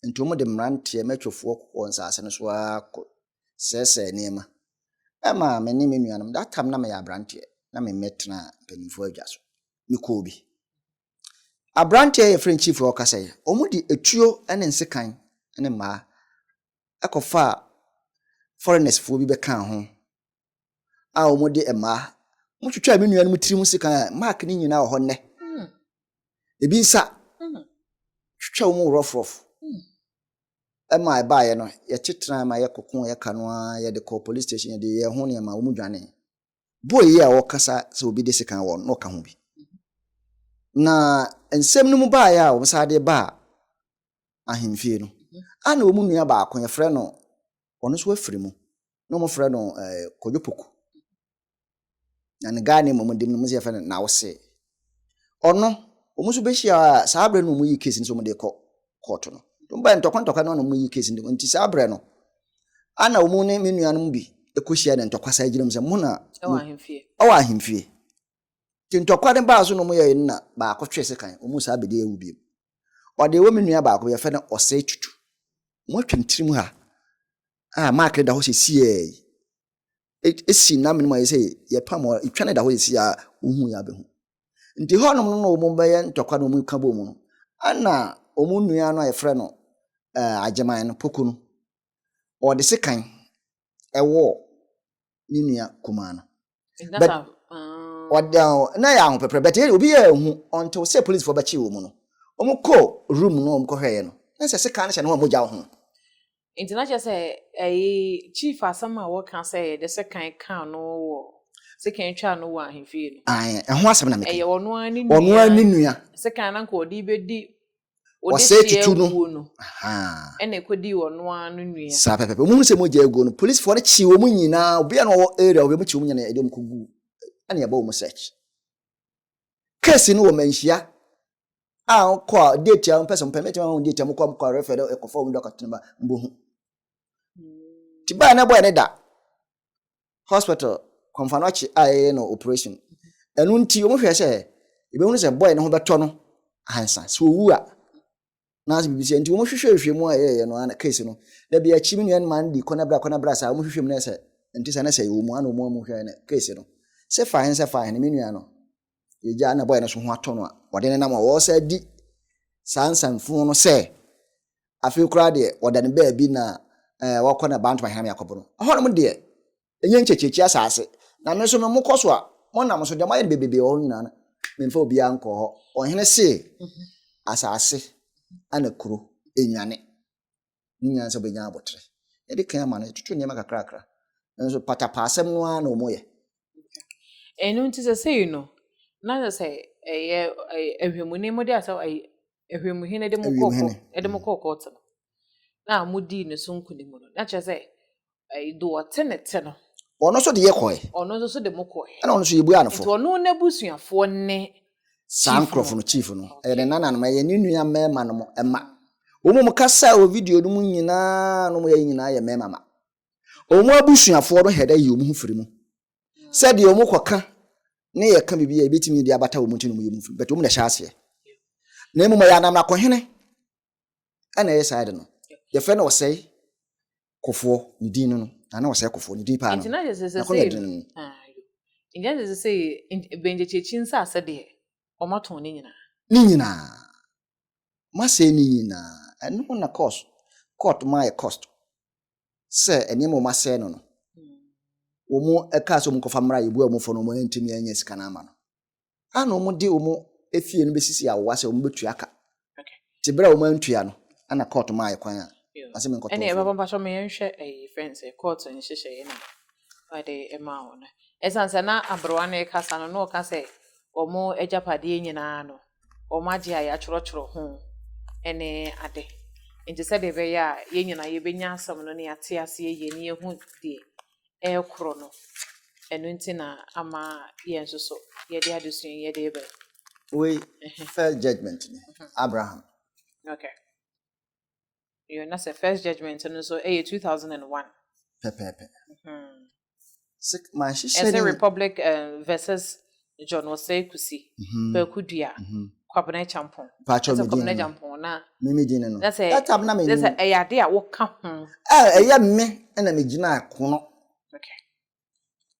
Speaker 2: Enti wɔde mmeranteɛ mmatwofoɔ kɔɔ nsase no so ara kɔsɛesɛee nneɛma. Ɛmaa me ne me nuanom, that time na meyɛ aberanteɛ, na memmɛtenaa mpanimfoɔ adwa so. Mekɔɔ bi. Aberanteɛ a yɛfrɛ no Chief a ɔkasa yi, wɔde atuo ne nsekan ne mmaa kɔfaa foreigners foɔ bi bɛkaa ho a wɔn de mmaa wɔn twitwaa me nua no mu tiri mu sekan a mark ne nyinaa wɔ hɔ nnɛ hmm. ebi nsa hmm. twitwa wɔn rɔfrɔf hmm. ɛma ɛbaayɛ no yɛte tena ma yɛkɔko yɛka no ara yɛde kɔ police station yɛde yɛn ho nneɛma wɔn dwane Boa yi a wɔkasa sɛ obi de sekan wɔ no, na ɔka ho bi. Na nsɛm no mu baeɛ a wɔsan de baa ahemfie no, a na wɔn nua baako yɛfrɛ no ɔno nso afiri mu, na wɔfrɛ no eh, Kwadwo Poku. Na ne guy name a wɔde mu no, wɔn nso yɛfrɛ no Nawose. Ɔno, wɔn nso bɛhyia a, saa berɛ no wɔyi case no sɛ wɔde rekɔ kɔɔto no. Wɔbae ntɔkwa ntɔkwa no na wɔyi case no. Nti saa berɛ no, ana wɔn ne me nuanom bi kɔhyia na ntɔkwa saa gyina mu sɛ mo na ɛwɔ ahemfie. Ɛwɔ ahemfie. Nti ntɔkwa no baa so na wɔyɛe no na baako twee sekan, wɔn saa bɛdi awu bio. Ɔde ɛwɔ me nua baako yɛfɛ no Ɔsɛe Tutu. Wɔatwa ne tirim ha a mark no da hɔ sɛ siɛɛ yi. si nna mene mu a yɛsɛ yɛpam wɔn, etwa ne da hɔ sisi a wohu yɛ abɛhu. Nti hɔnom no na wɔn bɛyɛ ntɔkwa na wɔn ka bɔ mu no, ɛna wɔn nua no a yɛfrɛ no ɛɛ agyeman no poku no, ɔde sekan ɛwɔ ne nua kumaa no. But ɔda na yɛ ahopɛpɛ but obi yɛ ehu ɔntew sɛ polisifo bɛkye wɔn no. Wɔn kɔ room no wɔn kɔhwɛɛ no na sɛ sekan no hyɛ ne ho a mogya ho. Enti na kyerɛ
Speaker 1: sɛ ɛyi chief asɛm a wɔka sɛ yɛde sekan kaa no wɔ sekan twaa no wɔ ahemfie no. Ae, ɛho asɛm na meka yi. Ɛyɛ
Speaker 2: ɔno ara ne nua. Ɔno ara
Speaker 1: ne nua.
Speaker 2: Sekan na nka ɔde
Speaker 1: bɛdi ɔsɛe
Speaker 2: tutu no. Ɔde no.
Speaker 1: Ɛna ɛkɔdii ɔno ara no nua. Saa pɛpɛpɛ. Wɔn hu sɛ mogya
Speaker 2: aguo no, polisifoɔ no kyee wɔn nyinaa. Obiara na ɔwɔ area hɔ, wɔn kyee wɔn nyinaa na ɛde wɔn kɔgu ɛna ɛbɔ wɔn search. Case no wɔ manhyia a kɔ a date a mpɛ sɛ mpɛ mɛtumi ama wɔn date a mokɔ a mokɔ a refɛ dɛ ɛkɔfa wɔn dɔkɔtɔ no ma mbɔ hu ti baa na ɛbɔ ɛne da hospital kɔnfa no akyi a yɛyɛ no operation ɛno nti wɔn hwɛ sɛ ebɛhunu sɛ bɔyɛ ne ho bɛtɔ no ansa sɛ owu a anaasɛ biribi sɛ nti wɔn hwehwɛ hwehwɛ mu a yɛyɛ no ana case no na bi akyi mi nua no ma no di kɔnabra kɔnabra saa wɔn hwehwɛ mu na sɛ nti sɛ na sɛ yɛwɔ mu ana wɔn a wɔn hwehwɛ no case no sɛ fahin sɛ fahin no mi nua no yɛgya na bɔyɛ no so ho atɔ no a wɔde ne nam a wɔsɛ di saa nsanfunu no sɛ afei koraa deɛ wɔda ne baabi na ɛɛ wɔkɔ na bantoma hɛn mi akɔbɔ no ɛhɔnom deɛ Enye nkyekyeekye asaase, na me nso no, mokɔ so a, monam so, deɛ moayɛ no bebrebe wɔ hɔ nyinaa no, memfa obiara nkɔɔ hɔ. Ɔhene see, Asaase ana kuro ɛnwane, ne nyansa bɛnya abotere. Yɛde kan ama no, yɛtoto nneɛma kakrakra, nanso patapaasɛm no ara na wɔyɛ.
Speaker 1: Ɛno nti sɛsei no, na sɛ sɛ ɛyɛ ahwɛmuni mode asɛm ahwɛmuhene de mo kɔɔ kɔɔto no, na modii ne so nkonim no, na kyerɛ sɛ Ɛɛ, do ɔtse ne tse no. Ɔno nso de yɛ kɔɛ.
Speaker 2: Ɔno nso so de mo kɔɛ.
Speaker 1: Ɛna ɔno nso yɛbuaa no fɔ. Nti
Speaker 2: ɔno n'abusuafoɔ
Speaker 1: ne. Saa nkorɔfo
Speaker 2: no chief no. Ɛyɛ ne nananom, ɛyɛ ne nua mmarima no mo mma. Wɔn mo kasa wɔ video no mu nyinaa no mo yɛ nyinaa yɛ mmarima mma. Wɔn abusuafoɔ no hɛdɛ yi wɔn ho firi mu. Sɛ deɛ wɔn kɔ ka ne yɛ ka bibi a ebetumi de abata wɔn ti no wɔn yɛ wɔn firi mu. But wɔn na ɛhyɛ aseɛ. Na mmom ɛyɛ anamna kɔhene ɛna ɛyɛ saa ade no yɛfrɛ no ɔsɛe kɔfoɔ ne din no no na na ɔsɛe kɔfoɔ ne din paa no nti na hyɛ sɛ sɛ sɛ
Speaker 1: ngyina sɛ sɛ sɛ bɛngyɛkyɛkyi nsa asɛ deɛ wɔn atɔn ne nyinaa ne nyinaa
Speaker 2: masɛ ne nyinaa ɛno na cost court ma yɛ cost sɛ nneɛma wɔn asɛe no no wɔn ɛka sɛ wɔn kɔfa mmra yɛbua wɔn fɔ no wɔn ntumi ɛnyɛ sika no ama no a na wɔde wɔn efie no bɛsisi awowa sɛ wɔbɛtua ka nti berɛ a wɔn antua no ɛna court maa yɛ kwan a ase mi nkɔtɔ ɛne ɛbɛbɔ mpa so meyɛ nhwɛ
Speaker 1: ɛyi fɛn sɛ court nhyehyɛ yɛ na wɔde ɛmaa wɔn no ɛsan sɛ na aberewa no ɛkasa no na ɔka sɛ wɔn agyapadeɛ nyinaa no wɔn agye a yɛatwerɛtwerɛ ho ɛne ade nti sɛdeɛ ɛbɛyɛ a yɛn nyinaa yɛbɛnya asɛm no ne yɛate aseɛ yie ne yɛhu deɛ ɛrekoro no, ɛno nti na ama yɛn nso so yɛde adesua yi yɛde reba. Wei
Speaker 2: first judgment ni Abraham.
Speaker 1: Okay. Yɛ na sɛ first judgment no nso ɛyɛ two thousand and one. Pɛpɛɛpɛ.
Speaker 2: Sɛ maa hyehyɛ ni. Ɛsɛ republic
Speaker 1: eh, versus John Osei Kusi, Kwaku Dua, Kwabena Acheampong. Pacho me Kwabena Acheampong na. Me me din no. Na sɛ
Speaker 2: that time na me. Sɛ
Speaker 1: ɛyɛ ade a woka ho. Eh ɛyɛ me
Speaker 2: ɛna me gyina kono.
Speaker 1: Okay.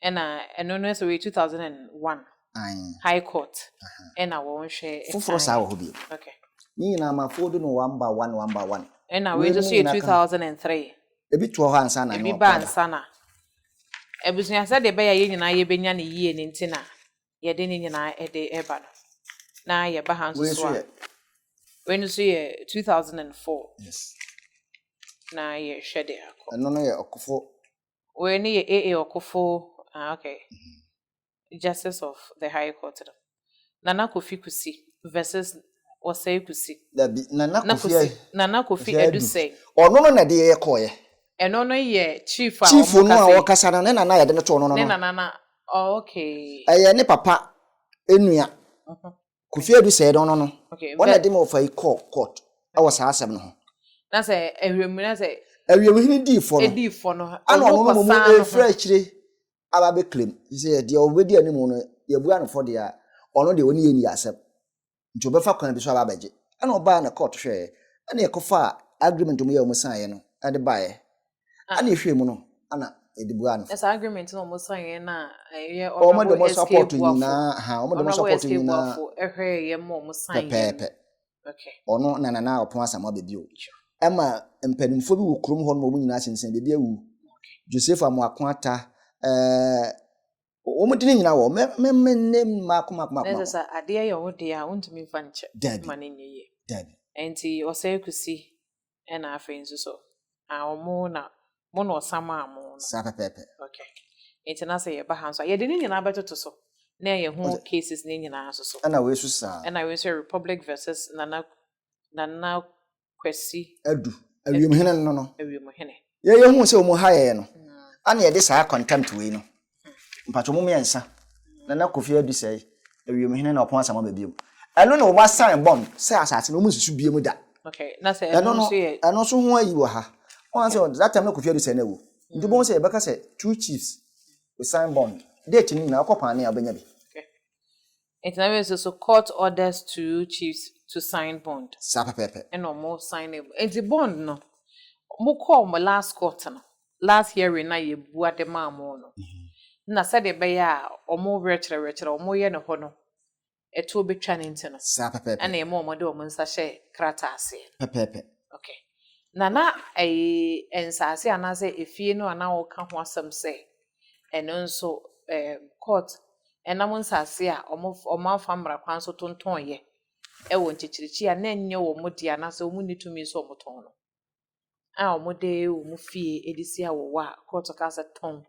Speaker 1: Ɛna ɛno no sɛ wɔ 2001. Ayi. High Court. Ɛna wɔn hwɛ. Foforo saa wɔ hɔ bi.
Speaker 2: Okay. Ni nyinaa
Speaker 1: ma fo
Speaker 2: do no one by one one by one. Ɛna wei nso so
Speaker 1: yɛ 2003. Ebi toɔ hɔ
Speaker 2: ansa na Ebi ba ansa na.
Speaker 1: Abusua sɛdeɛ ɛbɛyɛ a yɛn nyinaa yɛbɛnya no yie no nti na yɛde ne nyinaa de ɛba no. Na yɛba ha nso so a. Wei nso yɛ 2004. Yes.
Speaker 2: Na
Speaker 1: yɛhwɛ deɛ akɔ. Ɛno no yɛ ɔkofo.
Speaker 2: Wei no yɛ
Speaker 1: AA ɔkofo. Ah, okay. Mm -hmm. Justice of the High Court no, Nana Kofi Kusi versus Osei Kusi. Dabi, Nana Kofi Adu. Nana Kofi Adu Sey. Ɔno no na ɛde yɛ
Speaker 2: kɔɔeɛ. Ɛno no yɛ
Speaker 1: chief a wɔkasa yi. Chief no a wɔkasa
Speaker 2: no, ne nana yɛde no too no no. Ne nana na, oh
Speaker 1: okay. Ɛyɛ ne papa
Speaker 2: nua. Kofi Adu Sey no no no. Okay. Ɔna ɛde ma ɔfa yi kɔɔ court ɛwɔ saa asɛm no ho. Na sɛ
Speaker 1: awiemhene sɛ. Awiemhene dii fɔ
Speaker 2: no. Edii fɔ no. Ana ɔno no mo mu efiri akyire. aba abɛclaim sɛ deɛ ɔbɛdi anim no yɛbua no fɔ deɛ a ɔno deɛ ɔne yɛ nni asɛm nti ɔbɛfa kwan bi so aba abɛgye ɛna ɔbaa na court hwɛɛ ɛna yɛkɔfa agreement ɔmo yɛ ɔmo san yɛ no ɛde baeɛ ah. ɛna yɛhwɛɛ mu no ɛna yɛde bua no
Speaker 1: fɔ. ɛsɛ agreement na ɔmo
Speaker 2: san yɛ na ɛyɛ
Speaker 1: ɔnabɔ
Speaker 2: SK buafo ɔnabɔ SK buafo ɛhwɛɛ yɛ ma ɔmo san yɛ pɛpɛɛpɛ.
Speaker 1: Ɔno na Nana
Speaker 2: Ɔpon Asamoah baabi o. Ɛma mpanimfoɔ bi wɔ kurom hɔ nom a wɔn nyinaa sensɛn baabi awu. Joseph Amoako Ata, ɛɛ wɔn din nyinaa wɔ hɔ. Mɛ mɛ ne mmaako mmaako mmaako. Ɛsɛ sɛ adeɛ yɛ
Speaker 1: wo deɛ a wontumi mfa nkyɛ ma no nyɛ yie.
Speaker 2: Daabi.
Speaker 1: Ɛnti
Speaker 2: Ɔsɛe
Speaker 1: Kusi ɛna afei nso so ah ɔmo na mo na ɔsa maa mo no. Saa pɛpɛɛpɛ.
Speaker 2: Okay.
Speaker 1: Nti na sɛ yɛba ha nso a yɛde ne nyinaa bɛtoto so na yɛ ho cases ne nyinaa nso so. Ɛna wei nso saa. Ɛna
Speaker 2: wei nso yɛ Republic
Speaker 1: versus Nana Nana Kwasi. Adu.
Speaker 2: Awiemhene no no. Awiemhene. Yɛ
Speaker 1: yɛ hu sɛ wɔn
Speaker 2: ha yɛ no ana yɛde saa contempt wei no mpatwɔ mu mmiɛnsa na na kofi adu sɛ ewiem hene na ɔpɔn asɛm aba biom ɛno na wɔn asan bɔm sɛ asase no wɔn nsusu biom da okay na sɛ ɛno no
Speaker 1: ɛno nso ho ayi wɔ ha
Speaker 2: wɔn asɛ that time na kofi adu sɛ na ewu nti wɔn sɛ yɛbɛka sɛ two chiefs we sign bond date ni na ɔkɔ paane a ɔbɛnya bi Nti
Speaker 1: na afei so court orders two chiefs to sign bond. Saa pɛpɛɛpɛ. Ɛna
Speaker 2: ɔmo signee
Speaker 1: bond. Nti bond no, ɔmo kɔɔ ɔmo last court no, last hearing no a yɛbua de maa ɔmo no, na sɛdeɛ ɛbɛyɛ a ɔmo werɛkyerɛ werɛkyerɛ a ɔmo yɛ no hɔ no, ɛtoɔ bɛtwa no nti no, Saa pɛpɛɛpɛ. ɛna ɛma ɔmo
Speaker 2: de ɔmo nsa
Speaker 1: hyɛ krataa aseɛ no. Pɛpɛɛpɛ. Ok. Na na ɛyi, nsaase anaasɛ efie no a na wɔka ho asɛm sɛ ɛno nso ɛɛm court ɛnam nsaase a ɔmo ɔmo afa mmara kwan so tontɔn yɛ ɛwɔ nkyekyerɛkyi a na ɛnyɛ ɔmo dea anaasɛ ɔmo nni tumi sɛ ɔmo tɔn no a ɔmo de ɔmo fie ɛde si awɔwɔ a court kaa sɛ tɔn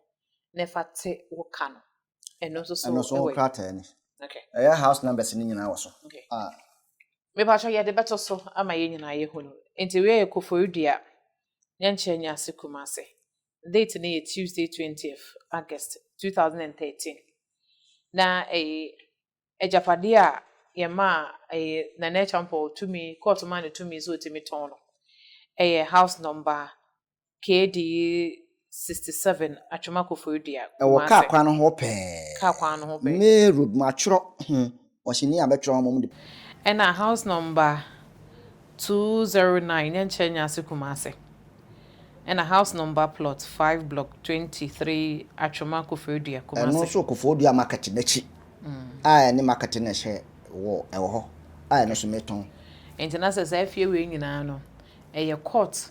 Speaker 1: na ɛfa te wo ka no ɛno nso so ɛno nso ho krataa ni
Speaker 2: okay ɛyɛ house
Speaker 1: numbers ne nyinaa
Speaker 2: wɔ so okay ah
Speaker 1: mepatwa yɛde bɛto so ama yɛ nyinaa yɛ hunu nti wei yɛ koforidua yɛnkyɛ nyɛ ase kumase date no yɛ Tuesday twentieth August two thousand and thirteen na ɛyɛ agyapadeɛ a yɛn maa ɛyɛ Nana Acheampong tumi court maa no tumi sɛ ɔtumi tɔn no ɛyɛ house number KD sixty seven Atwema Koforidua Kumasi. Ɛwɔ kaa kwan no
Speaker 2: ho pɛɛ. Kaa kwan no ho pɛɛ. Ne road mu atwerɛ ho. Ɔhyɛ ni a bɛtwerɛ hɔmom de. Ɛna house
Speaker 1: number two zero nine Nyankyerɛ Nyaase Kumase ɛna house number plot five block twenty three Atwoma Koforidua Kumase. Ɛno nso Koforidua market
Speaker 2: n'akyi a ɛne market no ɛhyɛ wɔ ɛwɔ hɔ a ɛno nso metɔn. Nti na sɛ saa
Speaker 1: fie wei nyinaa no ɛyɛ court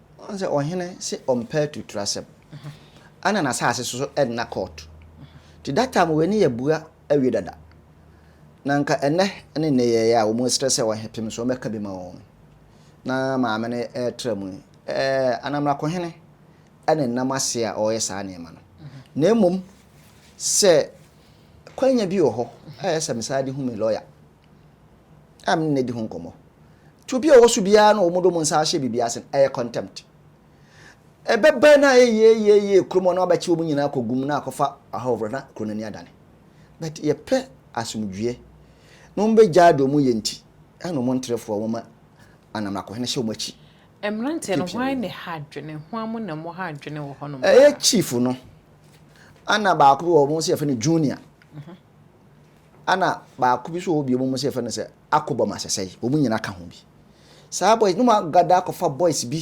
Speaker 2: Ɔn sɛ ɔhene se ɔmpɛ atuturasɛm a na n'asase so so ɛnna kɔɔt. Nti that time wei ne yɛabua awie dada. Na nka ɛnnɛ ne nneyɛeɛ a wɔn srɛ sɛ ɔhe pem so ɔmmɛka bi ma wɔn na maame no ɛretra mu yi, ɛɛ Anamrakohene ɛna ɛnam aseɛ a ɔreyɛ saa nneɛma no. Na mmom sɛ kwanya bi wɔ hɔ a ɛyɛ sɛ mesan de hu me lɔya. a me ne no di ho nkɔmmɔ. Nti obi a ɔwɔ so biara na wɔde wɔn nsa ahyɛ biribi ase no, ɛyɛ contempt. Ɛbɛba na ayɛ yie yie yie kurom hɔ na wɔabɛkye wɔn nyinaa akɔ gum na akɔfa ahɔhoɔ na kuro no ani adane. But yɛpɛ asomdwoeɛ na wɔbɛgyae deɛ wɔyɛ nti ɛna wɔn nterefoɔ wɔma Anamrakohene hyɛ wɔn akyi. Mmeranteɛ no
Speaker 1: hwan ne ha adwene? Hwan mo na mo ha adwene wɔ hɔnom paa? Ɛyɛ chief no
Speaker 2: ɛna baako bi wɔ hɔ wɔn nso yɛfrɛ no junior. Ana baako bi so wɔ hɔ bio mom sɛ yɛfrɛ no sɛ Akobɔ Masesɛe wɔn nyina ka ho bi saa boys nom agada akɔfa boys bi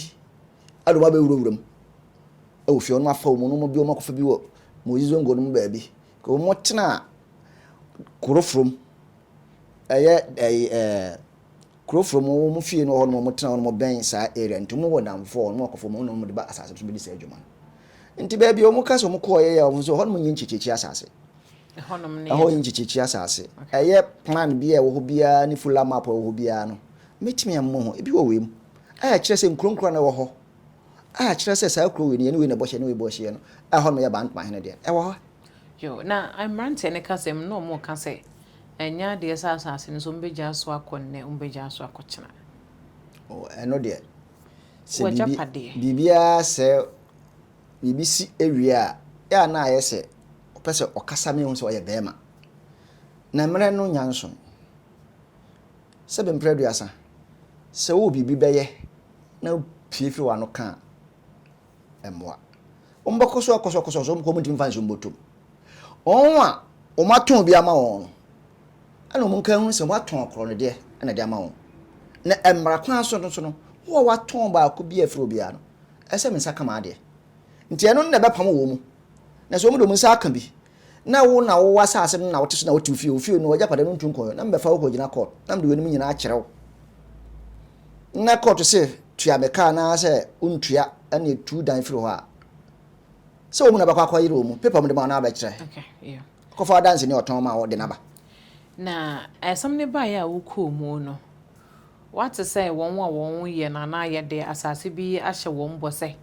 Speaker 2: ɛde wɔn abɛwura wura mu ɛwɔ fie wɔnom afa wɔn nom bi wɔn akɔfa bi wɔ Mozi Zongo nom baabi wɔn tena Kurofrom ɛyɛ ɛyi ɛɛ Kurofrom wɔn fie no wɔ hɔ nom wɔn tena wɔnom bɛn saa area nti wɔn wɔ namfoɔ wɔnom akɔfa wɔn nom de ba asase so bɛdi saa adwuma no nti baabi wɔn ka sɛ wɔn kɔɔ yɛ yɛ wɔn nso hɔ nom nyɛ nkyekyekyia asase.
Speaker 1: Ɛhɔ yɛ nkyekyerekyire asase.
Speaker 2: Ɛyɛ plan biara a ɛwɔ hɔ biara ne fuller map a ɛwɔ hɔ biara no, mɛtumi ammɔ ho. Ebi wɔ wei mu a ɛkyerɛ sɛ nkuro nkuro a na ɛwɔ hɔ a ɛkyerɛ sɛ saa kuro wei no yɛne wei na ɛbɔ hyeɛ, yɛne wei bɔ hyeɛ no, ɛhɔ nom yɛ Bantama hene deɛ, ɛwɔ hɔ. Yo, na
Speaker 1: mmeranteɛ no kasam no na wɔn reka sɛ ɛnyɛ adeɛ sɛ asase no nso wɔn bɛgyaa so akɔ nnɛ, wɔn bɛgyaa so akɔ kyena. Oh,
Speaker 2: ɛno deɛ. Sɛ biribi, biribiara sɛ biribi si awie a, yɛ a na ayɛ sɛ ɔpɛ sɛ ɔkasa ma yɛhu sɛ ɔyɛ barima. Na mmerɛ no nya nson. Sɛbe mprɛ aduasa, sɛ wowɔ biribi bɛyɛ na wopue firi w'ano ka a, ɛmmoa. Wɔbɛkɔ so akɔsɔkɔsɔ so, wɔn ntumi mfa nsuo mbɔ tom. Wɔn a wɔatɔn bi ama wɔn no, ɛna wɔn nka hu sɛ wɔatɔn akorɔ no deɛ na ɛde ama wɔn. Na mmara kwan so no so no, wo a woatɔn baako bi afiri obiara no, ɛsɛ me nsa ka m'adeɛ. Nti ɛno no na ɛbɛpam wɔn mu. Na sɛ wɔn de wɔn nsa aka bi, na wo na wowɔ asase no na wote so na wote wo fie, wo fie no w'agyapade no ntu nkɔyɔ, na mebɛfa wo kɔgyina kɔɔt, na mede weinom nyinaa akyerɛ wo. Na kɔɔt se tua me ka anaasɛ wontua na etu dan firi hɔ a, sɛ wɔn mu na bɛkɔ akɔyere wɔn mu, pepa mu de ma wo na wabɛkyerɛ. Kɔfa
Speaker 1: w'adanseni a ɔtɔn
Speaker 2: ma wo de no aba. Na
Speaker 1: asɛm no baeɛ a wokɔɔ mu no, Wɔate sɛ wɔn a wɔyɛ no anaa yɛde asase bi ahyɛ wɔn bɔ sɛ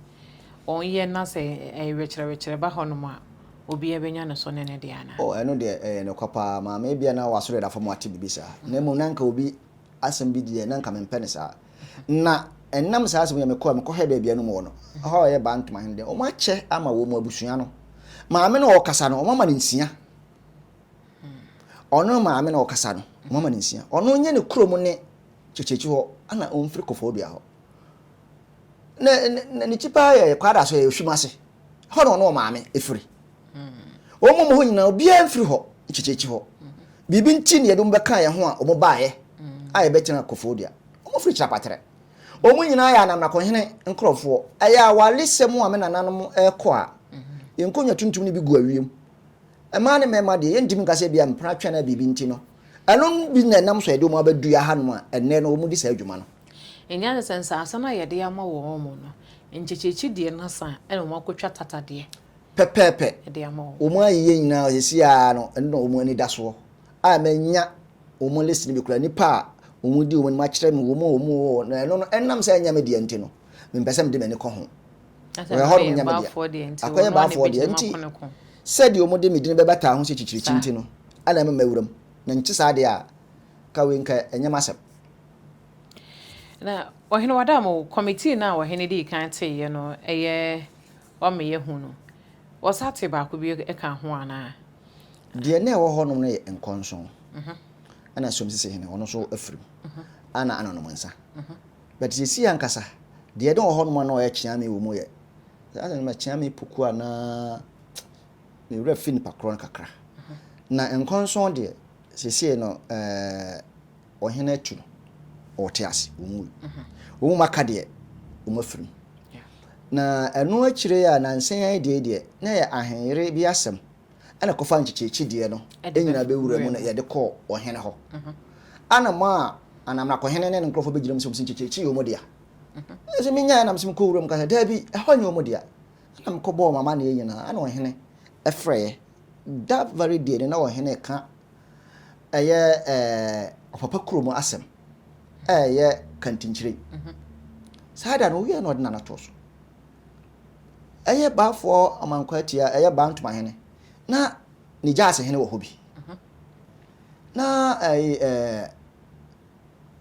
Speaker 1: wɔnyɛ na sɛ ɛrekyerɛkyerɛ ba hɔnom a, obiara bɛnya ne so ne ne deɛ anaa? O, ɛno deɛ, ɛyɛ ne kwa
Speaker 2: paa, maame. Ebia na w'asɔre yɛ da fam ate biribi saa, na mmom na anka obi asɛm bi deɛ, na anka mempɛ no saa. Na ɛnam saa asɛm yi a mekɔɔ a mekɔhwɛɛ baabi a na wɔwɔ no, hɔ a wɔyɛ Bantu man no deɛ, wɔakyɛ ama wɔn abusua no. Maame no a ɔrekasa no, wɔama no nsia. Ɔno maame na ɔkasa no moma no nsia ɔno nyɛ ne kuro mu ne kyekyekyi hɔ ana ɔmfiri kɔfɔɔ dua hɔ na na ne kyi paa yɛ kwada so yɛ ohwim ase hɔ na ɔno ɔmaame efiri wɔn mu hɔ nyinaa obiara mfiri hɔ kyekyekyi hɔ biribi nti na yɛde wɔn bɛka yɛn ho a wɔn baayɛ a yɛbɛtena kɔfɔɔ dua wɔn firi kyerɛ apatere wɔn nyinaa yɛ anamnakɔhene nkorɔfoɔ ɛyɛ awaresɛm a me nananom ɛkɔ a nkonnwa tuntum no bi gu awiem Mmaa ne mmarima deɛ, yɛntumi nka sɛ ebia mpena twɛn a biribi nti no. Ɛno bi na ɛnam so a ɛde wɔn abɛdu yɛn ahanom a ɛnnɛ no wɔdi saa dwuma no. Ɛnyɛ ne sɛ
Speaker 1: nsase no a yɛde ama wɔn no, nkyekyeekye deɛ no asa na wɔakɔtwa tata deɛ Pɛpɛɛpɛ.
Speaker 2: de ama wɔn. Wɔn
Speaker 1: ayeyɛ nyinaa
Speaker 2: seesei ara no, ɛno na wɔn ani da soɔ. A manya wɔn list no bi koraa, nnipa a wɔdi wɔn anim akyerɛ me, wɔn a wɔwɔ hɔ, na ɛno no, ɛnam sɛ ɛnyɛ me dea nti no, mempɛ sɛ mede m'ani kɔ ho. Wɔyɛ hɔnom nyɛ me dea. Akɔyɛ baafoɔ deɛ nti, sɛdeɛ wɔde me din bɛbata ho sɛ kyikyirikyi nti no, na ɛma mawura mu. Na nte saa deɛ a, ka wei nka ɛnyɛ m'asɛm. Na
Speaker 1: ɔhene Wadam, kɔmitii no a ɔhene dii kan teeɛ no yɛ ɔmeyɛ hu no, wɔsa tee baako bio ka ho anaa? Deɛ na
Speaker 2: ɛwɔ hɔnom no yɛ nkɔnson, ɛna Som Sisihene, ɔno nso afiri mu, ɛna Anonom Nsa. But seesei ankasa deɛ ɛde wɔ hɔnom a na ɔyɛ kyeame wɔ mu yɛ saa sɛ ma kyeame poku a na ne werɛ fi nipa korɔ no kakra. Na nkɔnsɔn deɛ seesei no ɛɛ ɔhene atu no ɔte ase wɔn mu wɔn mu aka deɛ wɔn afirim. Na ɛno akyire a nansan deɛ deɛ na yɛ ahenyere bi asɛm. ɛna kɔfa nkyekyekye deɛ no ɛnyina bɛwura mu na yɛde kɔɔ ɔhene hɔ ana mo a anam na kɔhene ne ne nkurɔfoɔ bɛgyina mu sɛ ɔmo sɛ nkyekyekye yɛ ɔmo dea ɛsɛ menya ɛnam sɛ mekɔ wura mu kasa daabi ɛhɔ nyɛ ɔmo dea ɛna mekɔ bɔɔ ɔmo amaneɛ nyinaa ɛna ɔhene ɛfrɛɛ da very deɛ no na ɔhene ka ɛyɛ ɛɛ ɔpapa kuro mu asɛm ɛyɛ kantinkyire saa da no woyɛ na ɔde nana toɔ so ɛyɛ Baafoɔ Amankwaatia, ɛyɛ Baa Ntomahene, na ne gyaasehene wɔ hɔ bi. Na ɛyi ɛɛ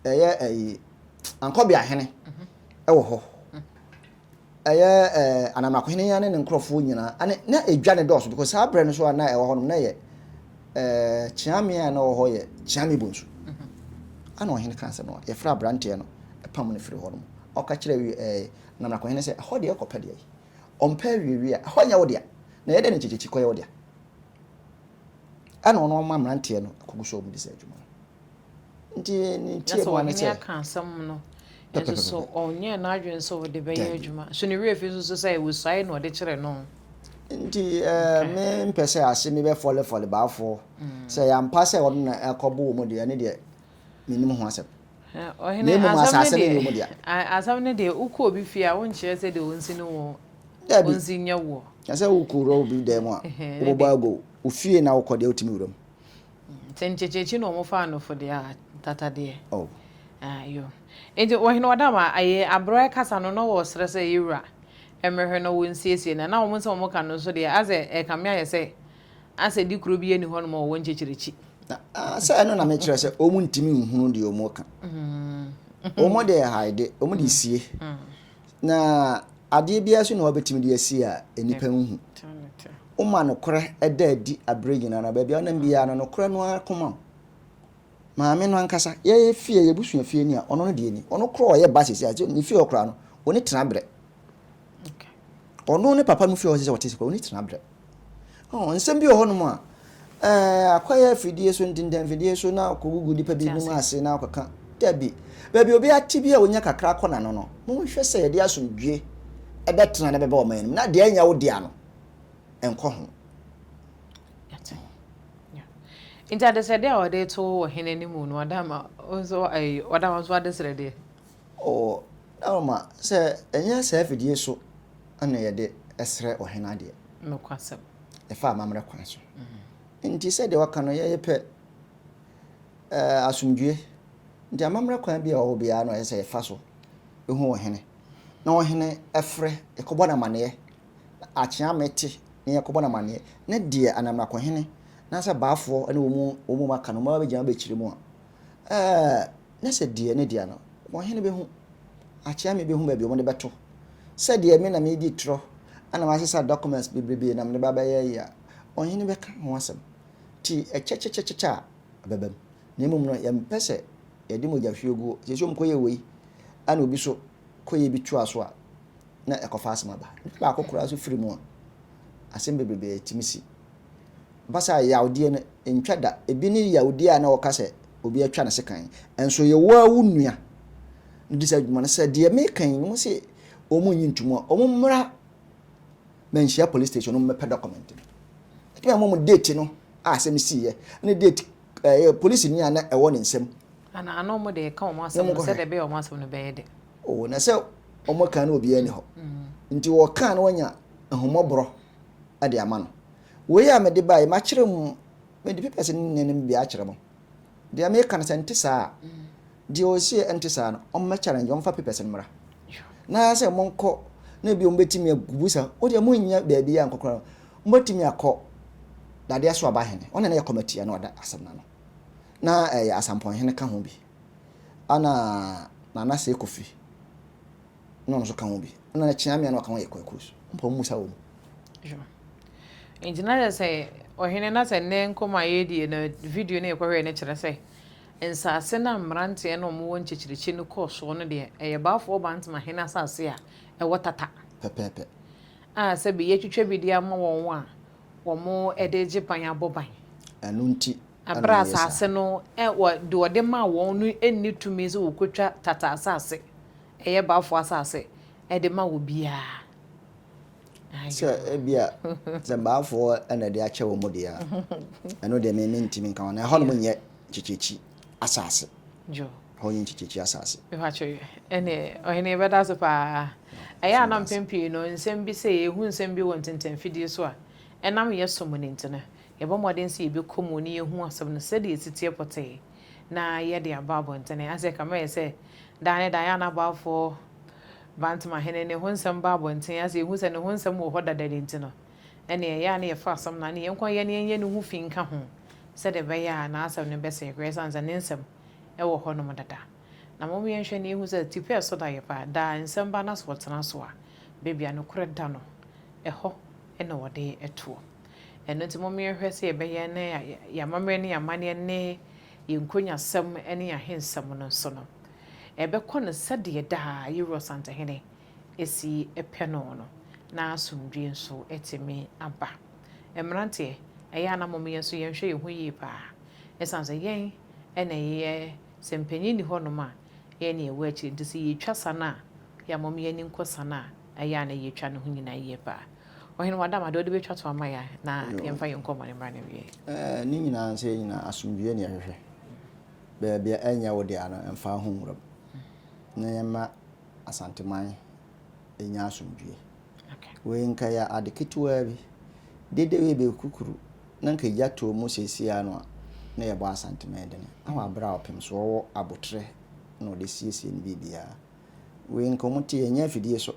Speaker 2: ɛyɛ ɛyi Ankɔbeahene ɛwɔ hɔ. Ɛyɛ ɛɛ Anamakohene ne ne nkorɔfoɔ nyinaa, ɛne na edwa ne dɔɔso because saa berɛ no so a na ɛwɔ hɔ nom na yɛ ɛɛ Kyeame a na ɔwɔ hɔ yɛ Kyeame Bonsu. Ɛna ɔhene kaa sɛ no yɛfrɛ aberanteɛ no pam no firi hɔ nom. Ɔka kyerɛ ɛɛ Na marakohene sɛ, Ɛhɔ deɛ, kɔpɛ deɛ ɔmpɛ awiewie a, ɛhɔ nyɛ wo dea, na yɛ dɛn na nkyekyekyekɔ yɛ wo dea? Ɛna ɔno ɔma mmeranteɛ no kɔgu so a wɔdi saa dwuma no. Nti ne ntiamu ara ne sɛ. Na sɛ ɔhene aka asɛm no
Speaker 1: nso so, ɔnyɛɛ n'adwene sɛ ɔde bɛyɛ adwuma. So ne werɛ fi nso sɛ wɔsuae na ɔde kyerɛ no? Nti
Speaker 2: mempɛ sɛ ase me bɛfɔlefɔle baafoɔ sɛ ɛyɛ ampa sɛ ɔno na ɛkɔbo wɔn deɛ, ɛno deɛ mennim ho asɛm. Na mmom
Speaker 1: asase no yɛ wɔn dea. Asɛm no deɛ, wokɔ obi fie a, wonkyerɛ sɛ deɛ ɔnsi ne wo, ɔnsi nyɛ woɔ. Na sɛ wokɔwura
Speaker 2: obi dan mu a, wobɛbɔ agow. Wo fie na wokɔ deɛ, wotumi wura mu. Sɛ nkyekyerekye
Speaker 1: na wɔfa anofo deɛ a, tata deɛ. Oh.
Speaker 2: Ah, yo.
Speaker 1: Enti, Ɔhene Ɔdama, ayi, aberɛ a ɛkasa no, na wɔsrɛ sɛ yɛwura mmɛhwɛ na wɔnsiesie no. Na wɔn nsɛm a wɔka no nso deɛ, asɛ ɛrekame ayɛ sɛ Asɛdi koro bi ani hɔnom wɔ wɔn nkyekyerɛkyi. Sɛ ɛno
Speaker 2: na mekyerɛ sɛ wɔn ntumi nhunu deɛ wɔn reka. Mm-hmm. Wɔn de haide, wɔn de sie. Mm-hmm. Na adeɛ biara so na wɔbɛtumi de asie a nnipa nhu. Woma nokorɛ ɛda adi abere nyinaa na baabi a ɔnam biara no nokorɛ no ara koma wo. Maame no ankasa yɛyɛ fie yɛbusua fie ni a ɔno no deɛ ni ɔno korɔ ɔyɛ ba sisi a ne fie ɔkora no wɔn tena brɛ.
Speaker 1: Ɔno ne
Speaker 2: papa no fie a ɔsɛ sɛ ɔte sɛ ɔne tena berɛ. Nsɛm bi wɔ hɔnom a akɔyɛ afidie so ntintɛmfidie so na akɔgugu nnipa bi nim ase na akɔka dabi. Baabi obi ate bi a ɔnya kakra kɔ n'ano no, monhwɛ sɛ yɛde asomdwie ɛbɛtena na bɛbɛ ɔman no mu na deɛ ɛnyɛ wo dea no ɛnkɔ ho.
Speaker 1: Nti adesrɛdeɛ a ɔde to ɔhene anim no ɔda ma ɔda wo nso adesrɛdeɛ. Oo
Speaker 2: Alma, sɛ ɛnyɛ saa afidie so na yɛde srɛ ɔhene adeɛ. Nokwasɛm.
Speaker 1: Ɛfa amammerɛ
Speaker 2: kwan so. Nti sɛdeɛ waka no, yɛyɛ pɛ eh, asomdwoe. Nti amammerɛ kwan bi a ɔwɔ biara na ɔyɛ sɛ yɛfa so hu ɔhene. Na ɔhene ɛfrɛ, yɛkɔbɔ no amanneɛ. Na akyea mete na yɛkɔbɔ no amanneɛ. Ne deɛ anamrakɔhene anaasɛ baafoɔ ne wɔn mu wɔn mu aka no, wɔn abɛgyina abɛkyerɛ mu a, eh, na sɛ deɛ ne dea no, wɔhene bɛhu, akyea me bɛhu baabi wɔde bɛto. Sɛ deɛ me na medi torɔ na masesa documents bebrebe na mede ba bɛyɛ yi a, ɔhene bɛka ho asɛm. Nti ɛkyɛkyɛkyɛkyɛkyɛ a, ɛbɛba mu. Na mmom no, yɛmpɛ sɛ yɛde mogyahwieguo, seesei wɔkɔyɛɛ wei, ɛna obi so kɔyɛ bi toa so a, na ɛkɔfa asɛm aba. Nipa baako koraa so firi mu a, asɛm bebrebe tumi si. Mfa saa yawdeɛ no ntwa da. Ebi ne yawdeɛ a na wɔka sɛ obi atwa ne sekan. Nso yɛ wo ara wo nua na ɔdi saa dwuma no. Sɛ deɛ meka yi, wɔn se wɔn nyi ntom a, wɔn mmra Manhyia Police Station na wɔn mmɛpɛ document no. Yɛtumi ama wɔn date no a asɛm siiɛ ne date ɛɛ polisi ni a na ɛwɔ ne nsam. Ana ana
Speaker 1: wɔn de reka wɔn asɛm no sɛdeɛ ɛbɛyɛ wɔn asɛm
Speaker 2: no bɛyɛ dɛ. Oo, na sɛ wɔka no obiara nni hɔ. Nti wɔka no wɔnya ahummɔborɔ de ama no. Wei a mede bae, makyerɛ mu, mede papers no nyinaa no mu bi akyerɛ mo. Deɛ meka no sɛ nte saa a, deɛ ɔsie ɛnte saa no, ɔmmɛ challenge, ɔmfa papers no mmra. Na sɛ monkɔ, na ebi wɔn bɛtumi abusa, o deɛ monnya baabi a nkɔkora no, mobɛtumi akɔ dadeɛ so aba hene, ɔne na yɛ kɔmati a na ɔda asɛm no ano. Na ɛyɛ asampɔn hene ka ho bi, ɛna Nana Sɛ Kofi na ɔno nso ka ho bi ɛna na kyea mmea na ɔka ho yɛ kwakuo so mpa wɔn mu sa wɔn mu. nti
Speaker 1: na yɛ sɛ ɔhene na sɛ nnɛ nkɔm a yɛredie no video no yɛkɔhwɛ no kyerɛ sɛ nsaase no a mmeranteɛ no wɔwɔ nkyekyerikyi no kɔɔ soɔ no deɛ ɛyɛ baafoɔ bantama hene asaase a ɛwɔ tata pɛpɛɛpɛ
Speaker 2: a sɛbi
Speaker 1: yɛatwitwa bi de ama wɔn a wɔn de gye ban abɔ ban ɛno nti
Speaker 2: ɛberɛ a asaase
Speaker 1: no deɛ ɔde maa wɔn no nni tumi sɛ wɔkɔtwa tata asaase Ɛyɛ bafo asase de ma wɔ biaa.
Speaker 2: Sɛ ebia sɛ baafoɔ na ɛde akyɛ wɔn deɛ a, ɛno deɛ me mentumi nka wɔn. Ɛhɔ nom nyɛ kyekyekyi asase. Ɛhɔ
Speaker 1: nyɛ kyekyekyi
Speaker 2: asase. Ɛhɔ ɛne
Speaker 1: ɔhene yɛbɛda ase paa. Ɛyɛ a na mpɛn pii no nsɛm bi sɛ yɛhu nsɛm bi wɔ ntentɛnfidie so a, ɛnam yɛ som no nti no, yɛbɔ mmɔden sɛ yɛbɛkɔ mu ne yɛhu asɛm no sɛdeɛ ɛsiteɛ pɔtee. na yɛde aba abɔntene. Anse kama yɛ sɛ daa ne daa yɛ a na abɔafoɔ Bantama hene ne ho nsɛm ba abɔntene ase yɛhu sɛ ne ho nsɛm wɔ hɔ dada de nti no ɛneɛ ɛyɛ a na yɛfa asɛm no ano yɛnko yɛ ne yɛnyɛ ne ho fi nka ho sɛdeɛ ɛbɛyɛ a n'asɛm no bɛsɛe koraa ɛsiane sɛ ne nsɛm wɔ hɔ nom dada. Na mom yɛnhwɛ na yɛhu sɛ tipɛ ɛso da yɛ paa. Daa nsɛm ba na sɛ ɔtena so a baabi a nokorɛ da no ɛhɔ na wɔde toɔ. Ɛno nti momma yɛnhwɛ sɛ yɛbɛyɛ na yɛn amammerɛ ne yɛn amanneɛ ne yɛn nkonyaasɛm ne yɛn ahensɛm no nso no, ɛbɛkɔ no sɛdeɛ daa yɛwura Ɔsantehene si pɛ no no, na asomdwoeɛ nso atumi aba. Mmeranteɛ, ɛyɛ a na mom yɛn nso yɛnhwɛ yɛn ho yie pa ara, ɛsiane sɛ yɛn na yɛyɛ, sɛ mpanin nni hɔnom a, yɛn na yɛwɔ akyire, nti sɛ yɛretwa sa no a, yɛ a mom yɛn ani nkɔ sa no a, Ɛyɛ a na yɛtwa ne ho nyinaa yie paa. Ɔhene wɔ Adam a, deɛ wode bɛtwa toɔ ama yɛ a, na yɛmfa yɛn nkɔmmɔne mmra n'awieeɛ. Ɛɛ, ne nyinaa nso yɛn nyinaa
Speaker 2: asomdwoeɛ na yɛhwehwɛ. Baabi a ɛnyɛ wo dea no, mfa wo ho nwura mu. Na yɛmma Asanteman nya asomdwoeɛ. Wei nka ɛyɛ ade ketewaa bi. Dede wei bɛyɛ kukuru na nka egya tɔɔ mu seesei ara no a, na yɛbɔ Asanteman dene. Awɔ aberɛ a ɔpemsoɔ wɔ aboterɛ na ɔde siesie ne biribiara. Wei nkɔmu te ɛnyɛ afidie so.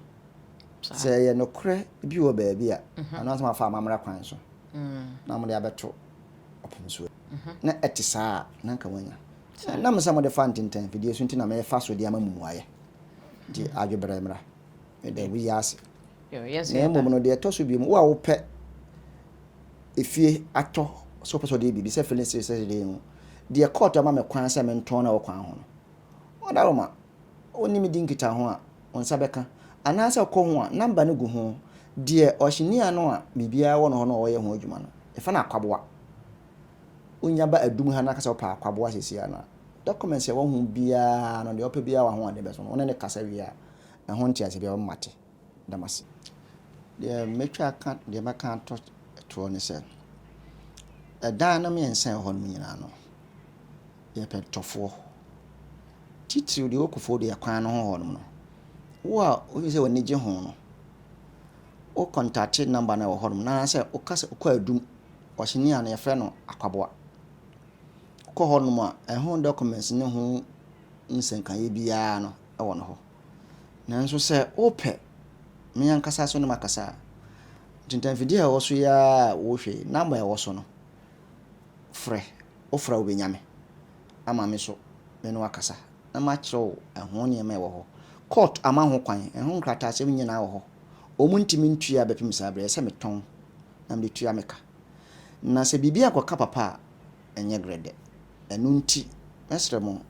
Speaker 2: Sɛ ɛyɛ nokorɛ bi wɔ baabi a, mhm. ɛno asɛm afa amammerɛ kwan so mm. na mode abɛto ɔpem so. Mhm. Na ɛte saa a na nka wanya. Nam sɛ mode fa ntentɛn afidie so nti na mefa so de ama mumuayɛ. Nti mhm. adweberɛ mmra. Mede woyi ase. Na
Speaker 1: mmom no deɛ ɛtɔ so bio
Speaker 2: mu wo a wopɛ efie atɔ sɛ wopɛ sɛ ɔde biribi sɛ filling station sɛ deɛ mu deɛ kɔɔto ama me kwan sɛ mentɔn na wɔ kwan ho no Ɔdawoma, Wonni me di nkitaho a, wo nsa bɛka, anaasɛ ɔkɔ ho a, namba no gu ho. Deɛ ɔhyenni ano a biribiara wɔ no hɔ na ɔyɛ ho adwuma no, yɛfrɛ no akwaboa. Wonya ba adum ha na aka sɛ wopɛ akwaboa seesei ara no a, documents a ɛwɔ ho biara no, deɛ ɔpɛ biara wɔ ahoɔden bɛso no, wo ne no kasa wie a, ɛho nteaseɛ biara ɔbɛma woate. da mo ase. Deɛ mɛtwa aka, deɛ mɛka ato toɔ ne sɛ, ɛdan no mmiɛnsa a ɛwɔ hɔ no nyinaa no, yɛ pɛntɔfoɔ. Titiriw deɛ ɛwɔ Kufuor deɛ kwan no ho hɔ nom no, wo a wohwɛ sɛ w'ani gye ho no, wo kɔntakte nɔmba no a ɛwɔ hɔ nom no anaasɛ woka sɛ wokɔ adum, ɔhyɛni a no yɛfrɛ no akwaboa. Wokɔ hɔ nom a, ɛho dɔkɔmɛns ne ho nsɛnkaeɛ biara no wɔ no hɔ. Nanso sɛ wopɛ, me ankasa nso na makasa a, ntintafidie a ɛwɔ so yi ara a wohwɛ yi, number a ɛwɔ so no, frɛ. Wofrɛ a wobɛnya me ama me nso me ne wo akasa na makyerɛ wo ɛho nneɛma a ɛwɔ hɔ. Court ama ho kwan, ɛho nkrataasɛm nyinaa wɔ hɔ. Wɔntumi ntua bɛpem saa berɛ, ɛsɛ sɛ metɔn na mede tua me ka. Na sɛ biribi ankɔka papa a, ɛnyɛ grɛdɛ. Ɛno nti, mɛsrɛ mo,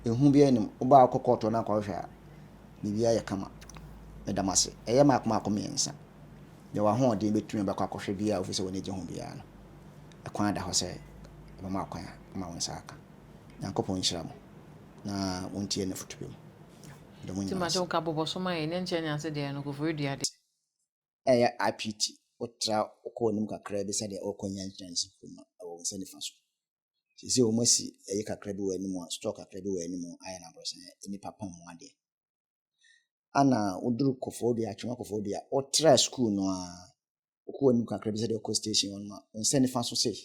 Speaker 2: ehu biara nni mu. Woba a wokɔ kɔɔto hɔ na akɔhwehwɛ a, biribiara yɛ kama. Meda mo ase. Ɛyɛ mmaako mmaako mmiɛnsa. Deɛ w'ahoɔden bɛtumi a, bɛkɔ akɔhwɛ biara a wofiri sɛ w'ani gye ho biara no. Ɛkwan da hɔ sɛ wɔbɛma wo kwan a, woma wo nsa aka. Nyankopɔn nhyira mo, na montie n'afotu pa mu. Meda mo nyinaa
Speaker 1: ase. reyɛ
Speaker 2: RPT, wotra wokɔ w'anim kakraa bi sɛdeɛ wokɔ nya nkyerɛnse kuruma wɔ wo nsa nifa so. Sisi wɔn asi ɛyi kakra bi wɔ anim a store kakra bi wɔ anim ayɛ no aborɔsan nnipa pɔn mu adeɛ. Ana woduru kɔfɔɔ dua atwema kɔfɔɔ dua wotra sukuu no a wokɔ w'anim kakra bi sɛdeɛ wokɔ station hɔ no ma wo nsa nifa so sei.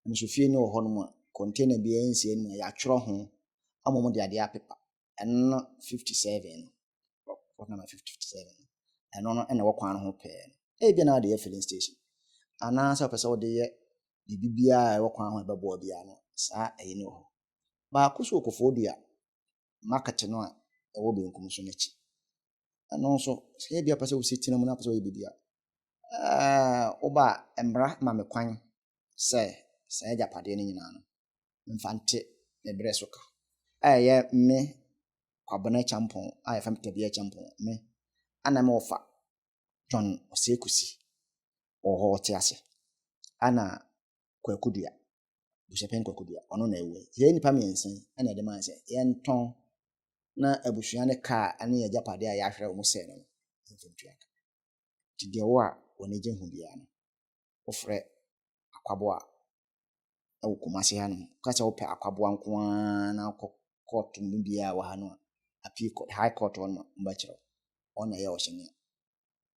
Speaker 2: Nso fie no wɔ hɔ no mu a kɔntena biara nsia no mu a yɛatwerɛ ho ama wɔn de adeɛ apepa. ɛno no 57 no plot number 57 no ɛno no ɛna ɛwɔ kwan no ho pɛɛ no ebi na wode yɛ filling station anaasɛ ɔpɛ sɛ wode yɛ biribi biara a ɛwɔ kwan ho ɛbɛboa biara no saa ɛyi no wɔ hɔ baako so wɔ kofoɔ dua market no a ɛwɔ benkum so no akyi ɛno nso sɛ ebi a ɔpɛ sɛ wosi tena mu na ɔpɛ sɛ ɔyɛ biribi a wobaa mmara ma me kwan sɛ saa agyapadeɛ no nyinaa no, mfa nte me berɛ so ka a ɛyɛ me Kwabena Kyampɔn a yɛfrɛ me Tabia Kyampɔn me a na mewɔ fa John Osei Kusi wɔ hɔ ɔte ase ɛna Kwaku Dua Busuapɛn Kwaku Dua ɔno na ɛwɔ yɛ nnipa mmiɛnsa yi ɛna ɛde maa sɛ yɛntɔn na abusua ne kaa ɛne yɛ agyapadeɛ a yɛahwerɛ wɔn sɛ no mfa ntua ka nti deɛ wɔ a wɔn agye ho biara no wofrɛ akwaboa wɔ Kumase hanom. Woka sɛ wopɛ akwaboa nko ara na wokɔ court mu biara wɔ ha no a, appeal court, high court hɔ no wɔbɛkyerɛ wo. Wɔn na ɛyɛ ɔhyɛ no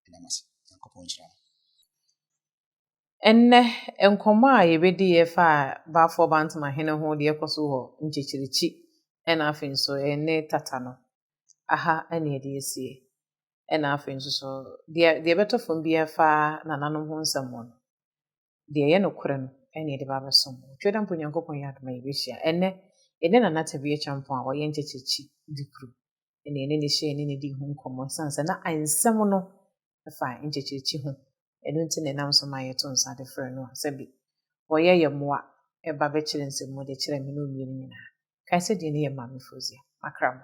Speaker 2: Ɛda mo ase. Nyankopɔn nhyira mo.
Speaker 1: Ɛnnɛ, nkɔmmɔ a yɛbɛdiiɛ faa Balfour Bantam ahene ho deɛ ɛkɔ so wɔ Nkyekyerikyi ɛna afei nso ɛne Tata no. Aha ne yɛde asie. ɛna afei nso so deɛ deɛ ɛbɛtɔ fam bi ɛfa nananom ho nsɛm ho no deɛ ɛyɛ nokorɛ no ɛna ɛde ba abɛsom twɛ dɛ mpo nyankopɔn yɛ adoma yɛbɛhyia ɛnɛ ɛne nana tebea kyampɔn a ɔyɛ nkyɛkyɛkyi di kuro ɛna ɛne ne hyɛ ɛne ne di ho nkɔmmɔ sane sɛ na nsɛm no ɛfa nkyɛkyɛkyi ho ɛno nti na ɛnam so ma yɛto nsa de frɛ no a sɛbi ɔyɛ yɛ mmoa ɛba bɛkyerɛ nsɛm mu de kyerɛ me ne omienu nyinaa kae sɛ deɛ ne yɛ maame fozia makra mo